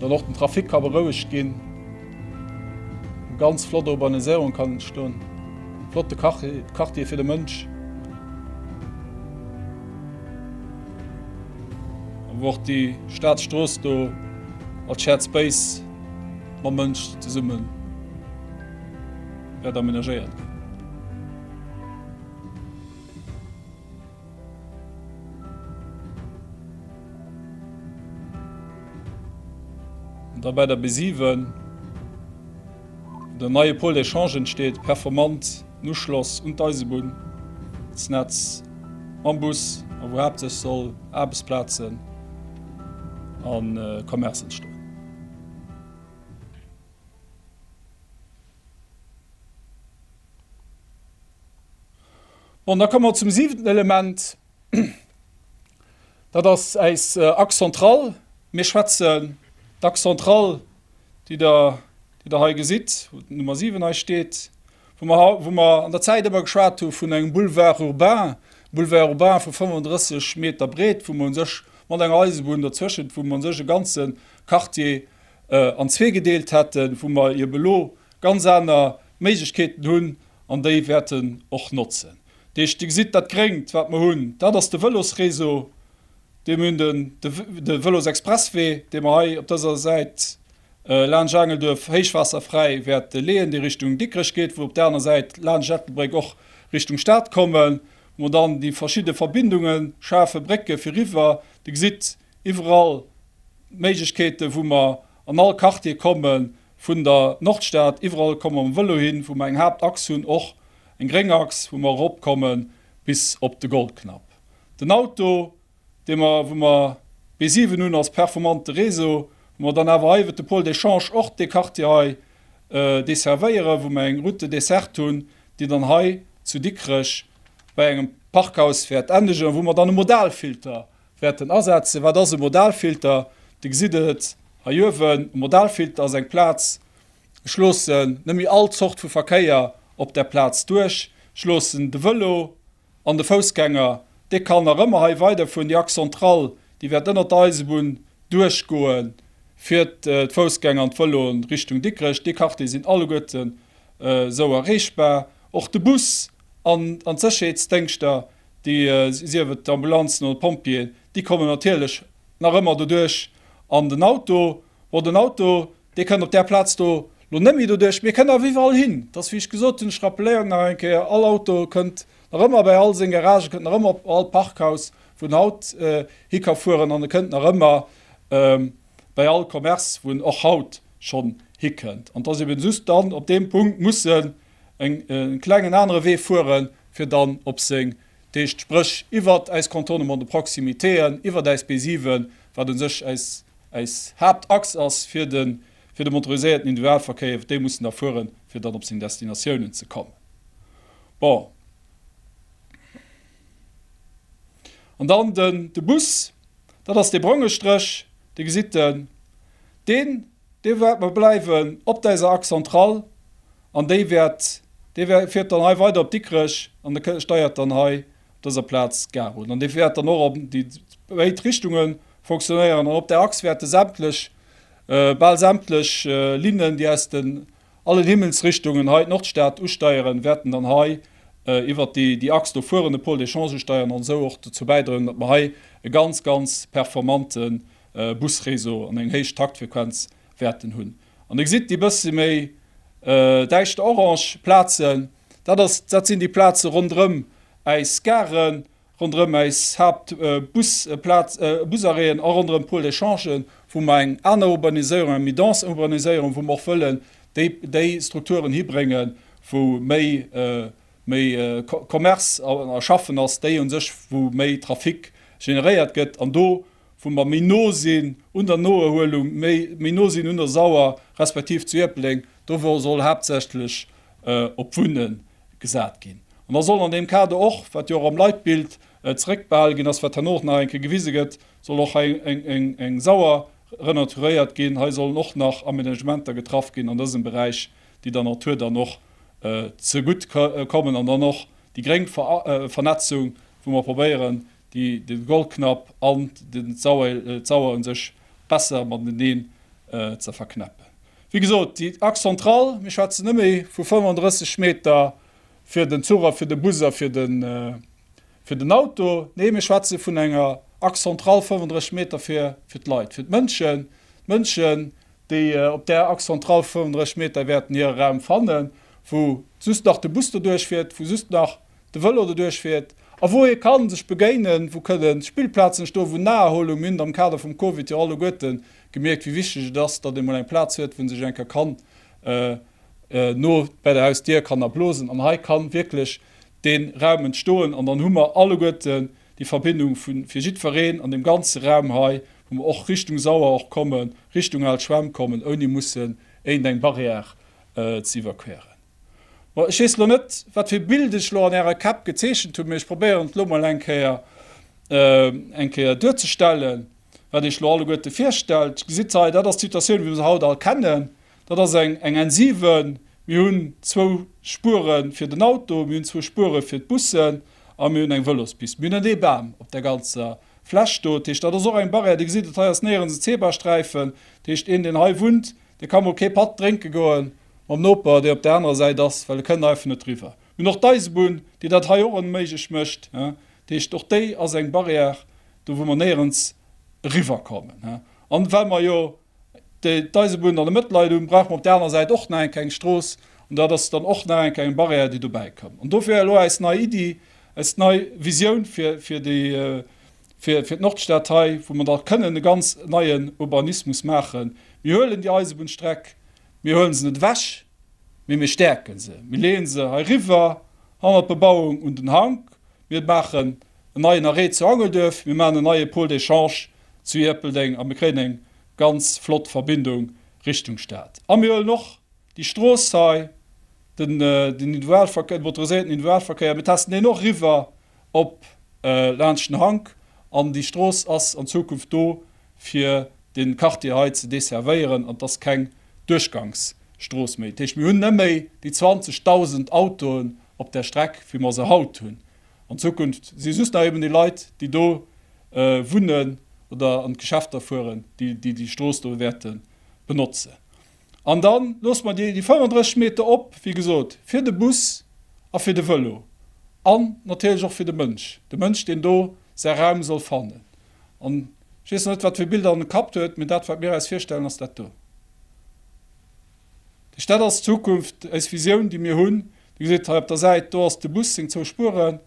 [SPEAKER 2] Dann och den Trafic ka berouegt ginn. Eng ganz flott Urbaniséierung kann entstoen. Flotte Quartier fir de Mënsch. A wou och déi Staatsstrooss do als Shared Space mam Mënsch zesumme wäert amenagéiert ginn. Da bei der B7 den neie Pôle d'échange entsteet, performanten Uschloss un d'Eisebunnsnetz mam Bus a wou haaptsächlech soll Aarbechtsplazen a Commerce entstoen. Bon, da komme mer zum siwenten Element. Dat ass äis Axe centrale. Mir schwätzen d'Axe centrale, déi Der, déi Der hei gesitt, wou d'Nummer 7 hei steet, wou mer, wou mer an der Zäit ëmmer geschwat hu vun engem Boulevard urbain, Boulevard urbain vu 35 Meter Breet, wou mer u sech mat enger Eisebunn dozwëschent, wou mer u sech e ganze Quartier an zwee gedeelt hätten, wou mer ebe lo ganz aner Méiglechkeeten hunn an déi wäerten och notzen. Dir gesitt, dat Gréngt, wat mer hunn, dat ass de Vëlosréseau, dee mir hunn, de Vëlosexpresswee, dee mer hei op dëser Säit laanscht Aangelduerf héichwaasserfräi wäerte leeën, dee Richtung Dikrech geet, wou op där aner Säit laanscht Ettelbréck och Richtung Stad kommen, wou mer dann déi verschidde Verbindunge schafen, Brécke fir riwwer. Dir gesitt iwwerall d'Méiglechkeete wou mer an all Quartier kommen, Vun der Nordstad iwwerall komme mer mam Vëlo hin, wou mer eng Haaptachs hunn, och eng gréng Achs, wou mer erop komme bis op de Goldknapp. Den Auto, dee mer, wou mer B7 hunn als performante Réseau, wou mer dann awer hei iwwert de Pôle d'échange och dee Quartier hei desservéieren, wou mer eng Route desserte hunn, déi dann hei zu Dikrech bei engem Parkhaus wäert endegen, wou mer dann e Modalfilter wäerten asetzen. Wat ass e Modalfilter? Dir gesitt et hei uewen, e Modalfilter ass eng Plaz, ech loossen net méi all Zort vu Verkéier op där Plaz duerch, ech loossen de Vëlo an de Foussgänger, dee kann nach ëmmer hei weiderfueren, déi Axe centrale, déi wäert ënnert der Eisebunn duerchgoe fir d'Foussgänger an d'Vëloen Richtung Dikrech. Déi Quartiere sinn alleguerten esou erreechbar. Och de Bus an d'Sécherheetsdéngschter déi sief et d'Ambulanzen oder d'Pompjeeën, déi kommen natierlech nach ëmmer doduerch an den Auto. Bon, den Auto, dee kënnt op där Plaz do elo net méi doduerch, mee e kënnt awer iwwerall hin. Et ass, wéi ech gesot hunn, ech rappelléieren nach eng Kéier, all Auto kënnt nach ëmmer bei all seng Garagen, kënnt nach ëmmer op all Parkhaus, wou en haut hi ka fueren an e kënnt nach ëmmer bei all Commerce, wou en och haut schonn hikënnt. An dass eeben just dann op deem Punkt musse en klengen anere Wee fueren, fir dann op seng d'éischt Spréch iwwert äis Contournement de proximitéen, iwwert äis B7, wat un sech äis Haaptachs ass fir de motoriséierten Individualverkéier, iwwert déi muss en da fueren, fir dann op seng Destinatiounen ze kommen. Bon. An dann de Bus, dat ass dee bronge Stréch, dee gesitt Der. Dee wäert mer bleiwen op deiser Axe centrale an déi wäert, dee wäert, fiert dann hei weider op Dikrech an da steiert dann hei op dëser Plaz d'Gare un an dee wäert dann och an déi béid Richtunge fonctionnéieren. An op där Axe wäerte sämtlech, bal sämtlech Linnen, déi aus den allen Himmelsrichtungen hei d'Nordstad usteieren, wäerten dann hei iwwert déi Axe do fueren, de Pôle d'échange usteieren an esou och dozou bäidroen, datt mer hei e ganz, ganz performanten Busréseau an eng héich Taktfrequenz wäerten hunn. An Dir gesitt déi bësse méi däischter orange Plazen, dat ass, dat sinn déi Plaze ronderëm äis Garen, ronderëm äis Haaptbusplaz, Busarrêten a ronderëm d'Pôles d'échangen, wou mer eng aner Urbaniséierung, eng méi dense Urbaniséierung, wou mer och wëllen déi Strukturen hibréngen, wou méi méi Commerce a Schaffen ass, déi u sech, wou méi Trafic generéiert gëtt. An do wou mer méi no sinn un der Noerhuelung, méi no sinn un der Sauer respektiv zu Ierpeldeng, do soll haaptsächlech op d'Wunne gesat ginn. An da soll an deem Kader och, wat jo och am Leitbild zeréckbehale ginn ass, wat herno och nach eng Kéier gewise gëtt, soll och hei eng Sauer renaturéiert ginn. Hei sollen och nach Amenagementer getraff ginn an dësem Beräich, déi der Natur dann och zegutt kommen an dann och déi gréng Vernetzung, wou mer probéieren, déi den Golknapp an den Zauer un sech besser mateneen ze verknäppen. Wéi gesot, déi Axe centrale, mir schwätzen net méi vu 35 Meter fir den Zuch a fir de Bus a fir den Auto, nee mir schwätze vun enger Axe centrale 35 Meter fir d'Leit, fir d'Mënschen, d'Mënschen déi op där Axe centrale 35 Meter wäerten hire Raum fannen, wou just nach de Bus doduerch fiert, wou just nach. de Vëlo doduerch fiert a wou ee kann sech begéinen, wou kënnen Spillplazen stoen, wou Naherholung mint am Kader vum Covid jo alleguerten gemierkt, wéi wichteg et ass, datt ee mol eng Plaz huet, wou en sech eng Kéier kann no bäi der Hausdier kann erblosen. An hei kann wierklech dee Raum entstoen an dann hu mer alleguerten déi Verbindung vu fir jiddwereen an deem ganze Raum hei, wou mer och Richtung Sauer och kommen, Richtung al Schwämm kommen, ouni mussen iergendeng Barrière ze iwwerqueren. Bon, ech weess elo net, wat fir e Bild ech elo an Ärer Käpp gezeechent hunn, mee ech probéieren et elo mol eng Kéier, eng Kéier duerzestellen, wat Iech elo alleguerte virstellt. Gesitt hei, dat ass d'Situatioun, wéi mer se haut all kennen. Dat ass eng, eng N7. Mir hunn zwou Spuere fir den Auto, mir hunn zwou Spuere fir d'Bussen a mir hunn eng Vëlospist. Mir hunn net ee Bam op där ganzer Fläch do. Dat heescht, dat ass och eng Barrière. Dir gesitt et, hei ass néierens en Zebrasträifen. Dat heescht, een, deen hei wunnt, dee ka mol kee Patt drénke goen. mam Noper, dee op der anerer Säit ass, well e kënnt einfach net riwwer. Mir hunn och d'Eisebunn, déi dat hei och onméiglech mécht. Dat heescht, och déi ass eng Barrière, do wou mer néierens eriwwerkommen. An well mer jo d'Eisebunn dann am Mëttelland hunn, brauche mer op der anerer Säit och nach eng Kéng eng Strooss. An dat ass dann och nach eng Kéng eng Barrière, déi dobäi kënnt. An dofir elo eis nei Iddi, eis nei Visioun fir d'Nordstad hei, wou mer da kënnen e ganz neien Urbanismus maachen. Mir huelen déi Eisebunnstreck Mir huele se net ewech, mee mir stäerke se. Mir leeë se heiriwwer hannert d'Bebauung un den Hank. Mir maachen en neien Arrêt zu Angelduerf. Mir maachen en neie Pôle d'échange zu Ierpeldeng a mir kréien eng ganz flott Verbindung Richtung Stad. A mir huelen och déi Strooss hei, den Individualverkéier, den motoriséierten Individualverkéier, mir testen deen och eriwwer op laanscht den Hank an déi Strooss ass an Zukunft do fir den Quartier hei ze desservéieren an et ass keng Duerchgangsstrooss méi. Dat heescht, mir hunn net méi déi 20.000 Autoen op där Streck wéi mer se haut hunn. An Zukunft si just nach eben déi Leit déi do wunnen oder an d'Geschäfter fueren, déi déi Strooss do wäerte benotzen. An dann loosse mer déi 35 Meter op, wéi gesot, fir de Bus a fir de Vëlo an natierlech och fir de Mënsch, de Mënsch, deen do säi Raum soll fannen. An ech weess net, wat fir Bilder en Kapp huet, mee dat, wat mir eis virstellen, ass dat do. Dech, dat ass d'Zukunft, eis Visioun, déi mir hunn. Dir gesitt hei op der Säit, do ass de Bus, seng zwou Spueren,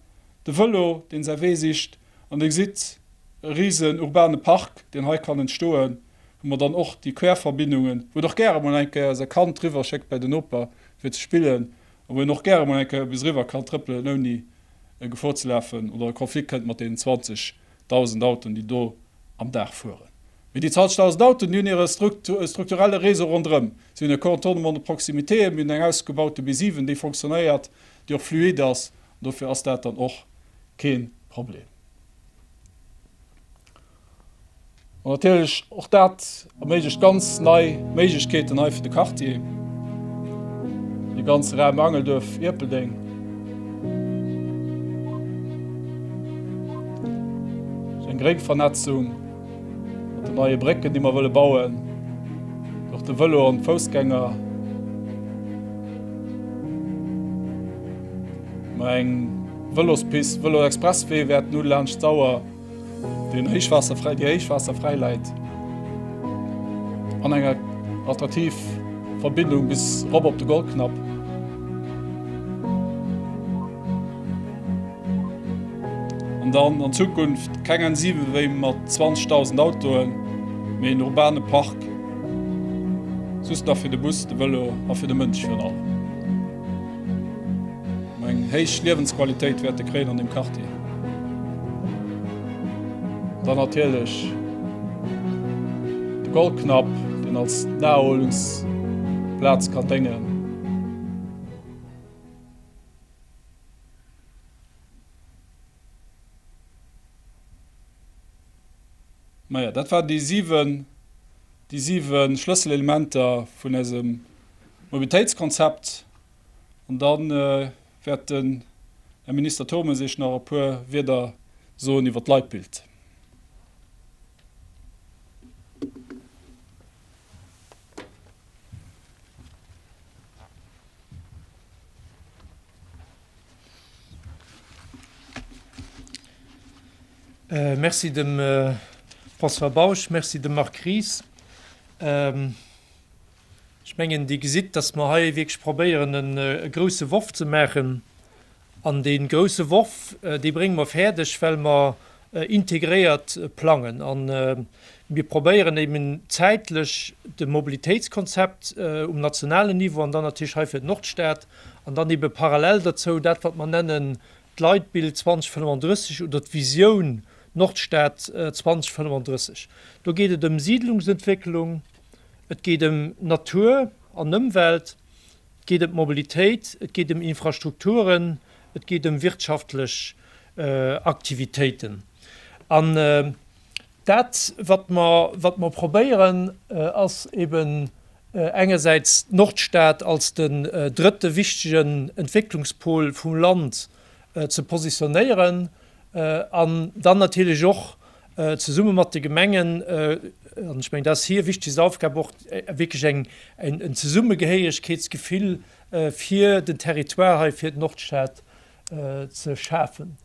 [SPEAKER 2] de Vëlo, deen säi Wee sicht, an Dir gesitt e risen urbane Park, deen hei kann entstoen. hu mer dann och déi Querverbindungen, wou en och gäre mol eng Kéier säi Kand riwwer schéckt bäi den Noper fir ze spillen a wou een och gäre mol eng Kéier bis eriwwer kann trëppelen, ouni Gefor ze lafen oder a Konflikt kënnt mat deenen 20 dausend Autoen, déi do am Dag fueren. Mee déi 20 dausend Autoen, déi hunn hire strukturelle Réseau ronderëm. Si hunn e Contournement de proximité, mir hunn eng ausgebaute B7, déi fonctionnéiert, déi och fluide ass, an dofir ass dat dann och kee Problem. An natierlech, och dat erméiglecht ganz nei Méiglechkeeten hei fir de Quartier, fir de ganze Raum Angelduerf-Ierpeldeng. Sou eng Gréngvernetzung mat den neie Brécken, déi mer wëlle bauen, fir och de Vëlo an d'Foussgänger mer eng Vëlospist, Vëlo-Expresswee wäerten hu laanscht d'Sauer. Den Héichwaasserfräi, déi Héichwaasserfräi läit an enger attraktiv Verbindung bis erop op de Goldknapp. An dann an Zukunft keng N7 wéi mat 20.000 Autoen, mee en urbane Park, just nach fir de Bus, de Vëlo a fir de Mënsch virun allem. Mä eng héich Liewensqualitéit wäert e kréien an deem Quartier. Dann natierlech de Goldknapp, deen als Naherholungsplaz kann déngen. Majo, dat waren déi siwen Schlësselelementer vun eisem Mobilitéitskonzept an da wäert den Här Minister Turmes Iech nach e puer Wieder soen iwwert d'Leitbild.
[SPEAKER 3] Merci dem François Bausch, merci dem Marc Ries. Ech mengen, Dir gesitt, dass mer hei wierklech probéieren, e grouse Worf ze maachen. An dee grouse Worf, dee brénge mer fäerdeg, well mer integréiert plangen. A mir probéieren eben zäitlech de Mobilitéitskonzept um nationalen Niveau an dann natierlech hei fir d'Nordstad an dann ebe parallel derzou dat, wat mer nennen d'Leitbild 2035 oder d'Visioun Nordstad 2035. Do geet et ëm Siidlungsentwécklung. Et geet ëm Natur an Ëmwelt, et geet ëm d'Mobilitéit, et geet ëm Infrastrukturen, et geet ëm wirtschaftlech Aktivitéiten. An dat, wat mer, wat mer probéieren, ass eeben engersäits d'Nordstad als den drëtte wichtegen Entwécklungspol vum Land ze positionéieren an dann natierlech och zesumme mat de Gemengen, an ech mengen, dat ass hir wichtegst Aufgab och, wierklech eng, en Zesummegehéieregkeetsgefill fir den Territoire hei, fir d'Nordstad ze schafen.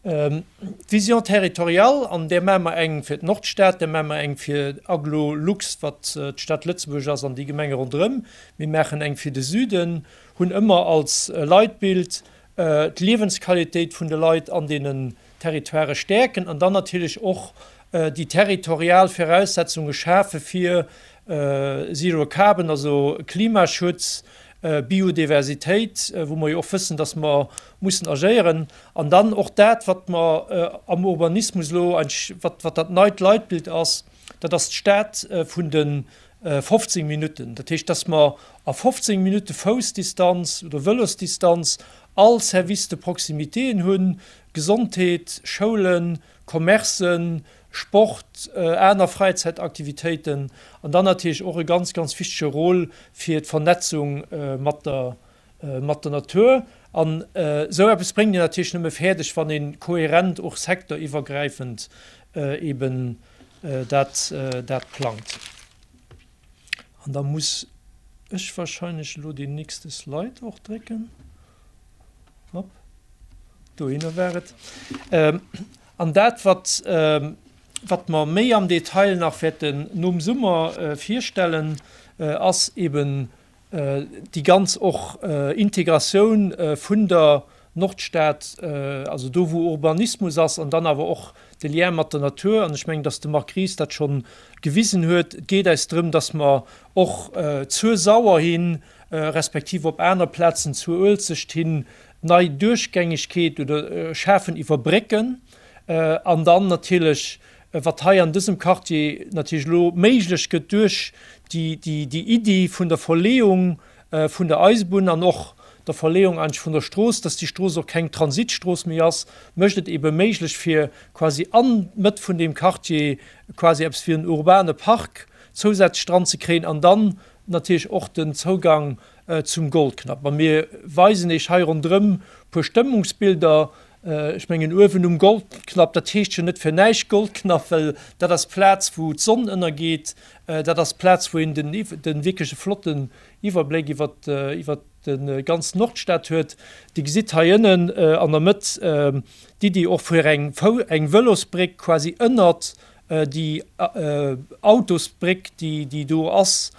[SPEAKER 3] D'Vision territoriale, an där maache mer eng fir d'Nordstad, där maache mer eng fir Agglo Lux, wat d'Stad Lëtzebuerg ass an déi Gemenge ronderëm, mir maachen eng fir de Süden, hunn ëmmer als Leitbild d'Liewensqualitéit vun de Leit an deenen Territoirë stäerken an dann natierlech och déi territorial Viraussetzunge schafe fir Zero Carbon, also Klimaschutz, Biodiversitéit, wou mer jo och wëssen, datt mer mussen agéieren. An dann och dat, wat mer am Urbanismus elo, wat dat neit Leitbild ass, dat ass d'Stad vun de 15 Minutten. Dat heescht, datt mer a 15 Minutte Foussdistanz oder Vëlosdistanz All Service de proximitéen hunn, Gesondheet, Schoulen, Commercen, Sport, aner Fräizäitaktivitéiten an dann natierlech och e ganz, ganz wichtege Rôle fir d'Vernetzung mat der, mat der Natur. An esou eppes bréngt een natierlech nëmme fäerdeg, wann ee kohärent och secteuriwwergräifend eeben dat, dat plangt. An da muss ech wahrscheinlech elo deen nächste Slide och drécken. Hop. Dohinner war et. Ähm, an dat, wat, ähm, wat mer méi am Detail nach wäerten nom Summer äh, virstellen, äh, ass eben Déi ganz och Integratioun vun der Nordstad, also do wou Urbanismus ass an dann awer och de Lien mat der Natur. An ech mengen, datt de Marc Ries dat schonn gewisen huet, et geet eis drëm, datt mer och zur Sauer hi respektiv op aner Plazen, zur Uelzecht hin, nei Duerchgängegkeet oder schafen iwwer Brécken an dann natierlech Wat hei an dësem Quartier natierlech elo méiglech gëtt duerch déi Iddi vun der Verleeung vun der Eisebunn an och der Verleeung eigentlech vun der Strooss, dass déi Strooss och keng Transitstrooss méi ass, mécht et eebe méiglech fir quasi an d'Mëtt vun deem Quartier quasi eppes wéi en urbane Park zousätzlech dran ze kréien an dann natierlech och den Zougang zum Goldknapp. A mir weisen Iech hei ronderëm e puer Stëmmungsbilder Ech mengen uewen um Goldknapp, dat heescht jo net fir näischt Goldknapp, well dat ass d'Plaz wou d'Sonn ënnergeet. Dat ass d'Plaz wou een den de wierkleche flotten Iwwerbléck iwwer iwwer de ganz Nordstad huet. Dir gesitt hei ënnen an der Mëtt d'Iddi och fir eng eng Vëlosbréck quasi ënnert déi Autosbréck déi do ass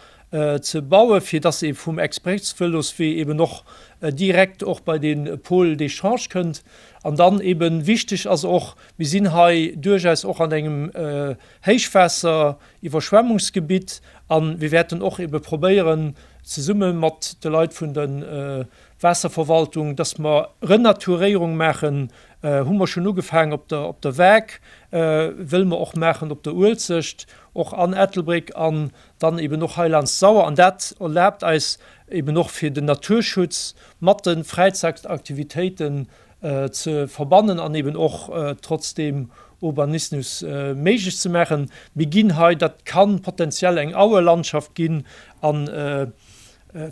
[SPEAKER 3] ze bauen, fir dass ee vum Expressvëloswee eben och direkt och bei de Pôle d'échange kënnt. An dann eben wichteg ass och, mir sinn hei duerchaus och an engem Héichwaasser-, Iwwerschwemmungsgebitt a mir wäerten och ebe probéieren zesumme mat de Leit vun de Waasserverwaltung, dass mer Renaturéierung maachen, hu mer schonn ugefaangen op der op der Waark, wëlle mer och maachen op der Uelzecht, och an Ettelbréck an dann eben och hei laanscht d'Sauer. An dat erlaabt eis eben och, fir den Naturschutz mat de Fräizaktaktivitéiten ze verbannen an eben och trotzdeem Urbanismus méiglech ze maachen. Mir ginn hei, dat ka potenziell eng Auelandschaft ginn an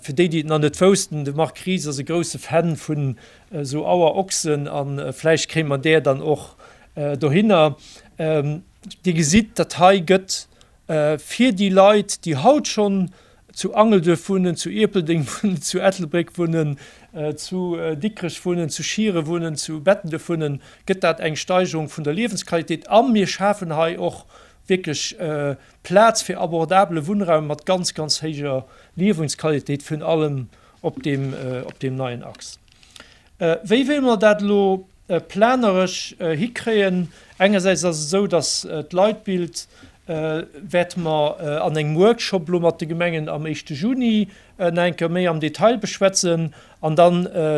[SPEAKER 3] Fir déi, déi et nach net woussten, de Marc Ries ass e grousse Fan vun esou Auerochsen a vläicht kréie mer där dann och dohinner. Dir gesitt, dat hei gëtt fir déi Leit, déi haut schonn zu Angelduerf wunnen, zu Ierpeldeng wunnen, zu Ettelbréck wunnen, zu Dikrech wunnen, zu Schieren wunnen, zu Bettenduerf wunnen, gëtt dat eng Steigerung vun der Liewensqualitéit a mir schafen hei och wierklech Plaz fir abordabele Wunnraum mat ganz, ganz héijer Liewensqualitéit vun allem op deem, op deem neien Axe. Wéi wéilt mer dat elo planeresch hikréien? Engersäits ass et esou, dass d'Leitbild, wäerte mer an engem Workshop elo mat de Gemengen am éischte Juni nach eng Kéier méi am Detail beschwätzen. An da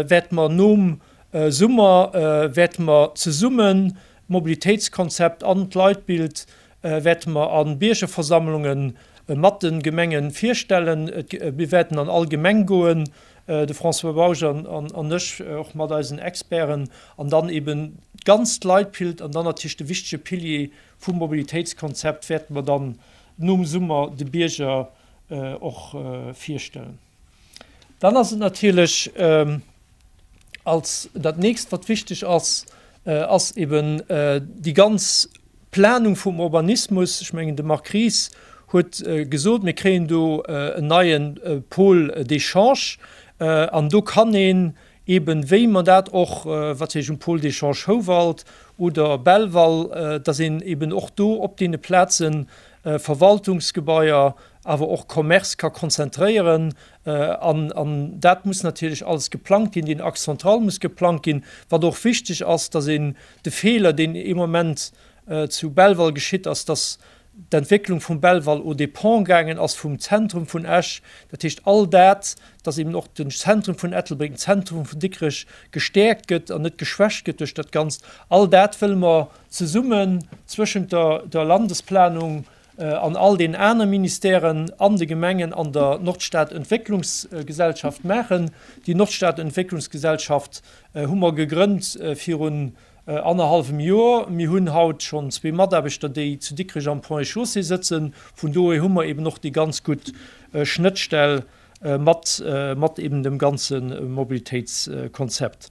[SPEAKER 3] wäerte mer nom Summer, wäerte mer zesummen d'Mobilitéitskonzept an d'Leitbild wäerte mer a Biergerversammlunge mat de Gemenge virstellen. Mir wäerten an all Gemeng goen, de François Bausch an ech, och mat eisen Experten, an dann eeben d'ganzt Leitbild an dann natierlech de wichtege Pilier vum Mobilitéitskonzept wäerte mer dann nom Summer de Bierger och virstellen. Dann ass et natierlech als dat nächst, wat wichteg ass, ass eben déi ganz Planung vum Urbanismus. Ech mengen, de Marc Ries huet gesot, mir kréien do en neie Pôle d'échange an do kann een Eben wéi mer dat och, wat wéi ech um Pôle d'échange Houwald oder Belval, dass een eben och do op deene Plazen Verwaltungsgebaier, awer och Commercë ka konzentréieren. An dat muss natierlech alles geplangt ginn, deen Axe central muss geplangt ginn. Wat och wichteg ass, dass een de Feeler, deen ee Moment zu Belval geschitt ass, dass d'Entwécklung vum Belval aux dépens gaangen ass vum Zentrum vun Esch, dat heescht all dat, dass eben och den Zentrum vun Ettelbréck, den Zentrum vun Dikrech gestäerkt gëtt an net geschwächt gëtt duerch dat Ganzt, all dat wëlle mer zesummen zwëschent der der Landesplanung an all deenen anere Ministèren an de Gemengen an der Nordstadentwécklungsgesellschaft maachen. Déi Nordstadentwécklungsgesellschaft hu mer gegrënnt virun Annerhallwem Joer. Mir hunn haut schonn zwee Mataarbechter, déi zu Dikrech am Ponts et Chaussées sëtzen. Vun dohier hu mer eeben och déi ganz gutt Schnëttstell mat, mat eeben dem ganze Mobilitéitskonzept.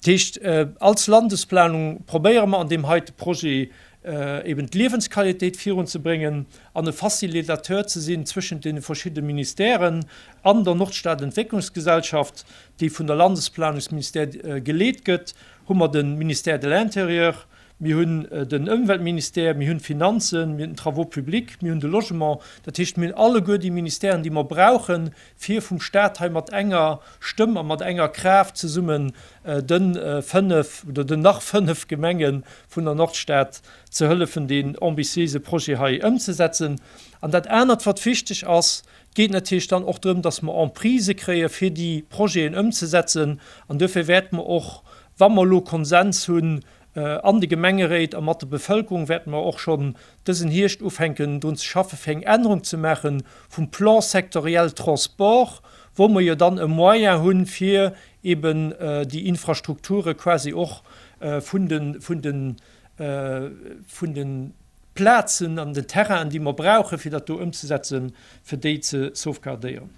[SPEAKER 3] Dat heescht, als Landesplanung probéiere mer an deem heite Projet eeben d'Liewensqualitéit virunzebréngen an e Facilitateur ze sinn zwëschent deene verschidde Ministèren an der Nordstadentwécklungsgesellschaft, déi vun der Landesplanungsministère geleet gëtt, Hu mer de Ministère de l'Intérieur, mir hunn den Ëmweltministère, mir hunn d'Finanzen, mir hunn den Travaux publics, mir hunn de Logement. Dat heescht, mir hunn alleguer déi Ministèren, déi mer brauchen, fir vum Stat hei mat enger Stëmm a mat enger Kraaft zesummen de fënnf oder den nach fënnf Gemenge vun der Nordstad ze hëllefen, deen ambitiéise Projet hei ëmzesetzen. An dat anert, wat wichteg ass, geet natierlech dann och drëm, dass mer Emprise kréie fir déi Projeten ëmzesetzen. An duerfir wäerte mer och, wa mer elo Konsens hunn an de Gemengeréit a mat der Bevëlkerung, wäerte mer och schonn dësen Hierscht ufänken drun ze schaffe fir eng Ännerung ze maache vum Plan sectoriel transport, wou mer jo dann e Moyen hu fir eeben déi Infrastrukture quasi och vun de, vun de, vun de. Plazen an den Terrainen, déi mer brauchen, fir dat do ëmzesetzen, fir déi ze sauvegardéieren.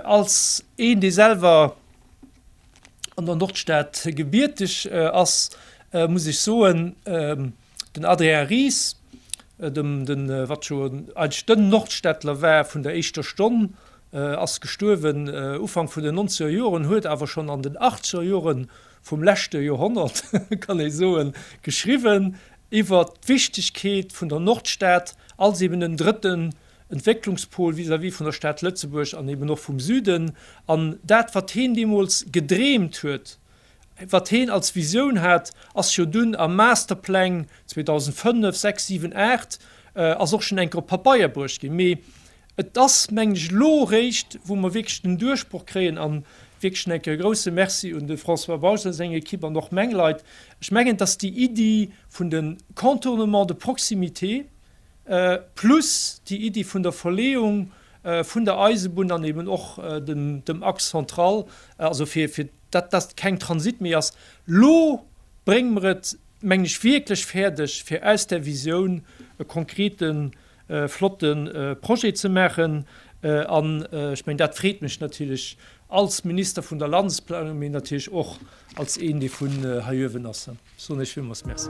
[SPEAKER 3] Als een, dee selwer an der Nordstad gebierteg ass, muss ech soen, den Adrien Ries, dem, den, wat scho eigentlech den Nordstädtler war vun der éischter Stonn, ass gestuerwen Ufank vun den nonzeger Joren, huet awer schonn an den achtzeger Jore vum leschte Joerhonnert, kann ee soen, geschriwwen, iwwer d'Wichtegkeet vun der Nordstad als eben en drëtten Entwécklungspol vis-à-vis vun der Stad Lëtzebuerg an eben och vum Süden, an dat wat heen deemools gedreemt huet, wat heen als Visioun hat, ass jo dunn a Masterpläng 2005, 6, 7, 8, ass och schonn eng Kéier op Pabeier bruecht ginn, mee Et ass, mengen ech, elo réischt, wou mer wierklech den Duerchbroch kréien, a wierklech schonn eng Kéier e grousse Merci un de François Bausch a seng Ekipp an och meng Leit, ech mengen, datt déi Iddi vun de Contournements de proximité plus déi Iddi vun der Verleeung vun der Eisebunn an eben och dem Axe central, also fir datt dat keng Transit méi ass, elo brénge mer et, mengen ech, wierklech fäerdeg, fir aus där Visioun e konkrete flotte Projet ze maachen. An ech mengen, dat freet mech natierlech als Minister vun der Landesplanung, mee natierlech och als een, dee vun hei uewen ass. Dann soen ech villmools Merci.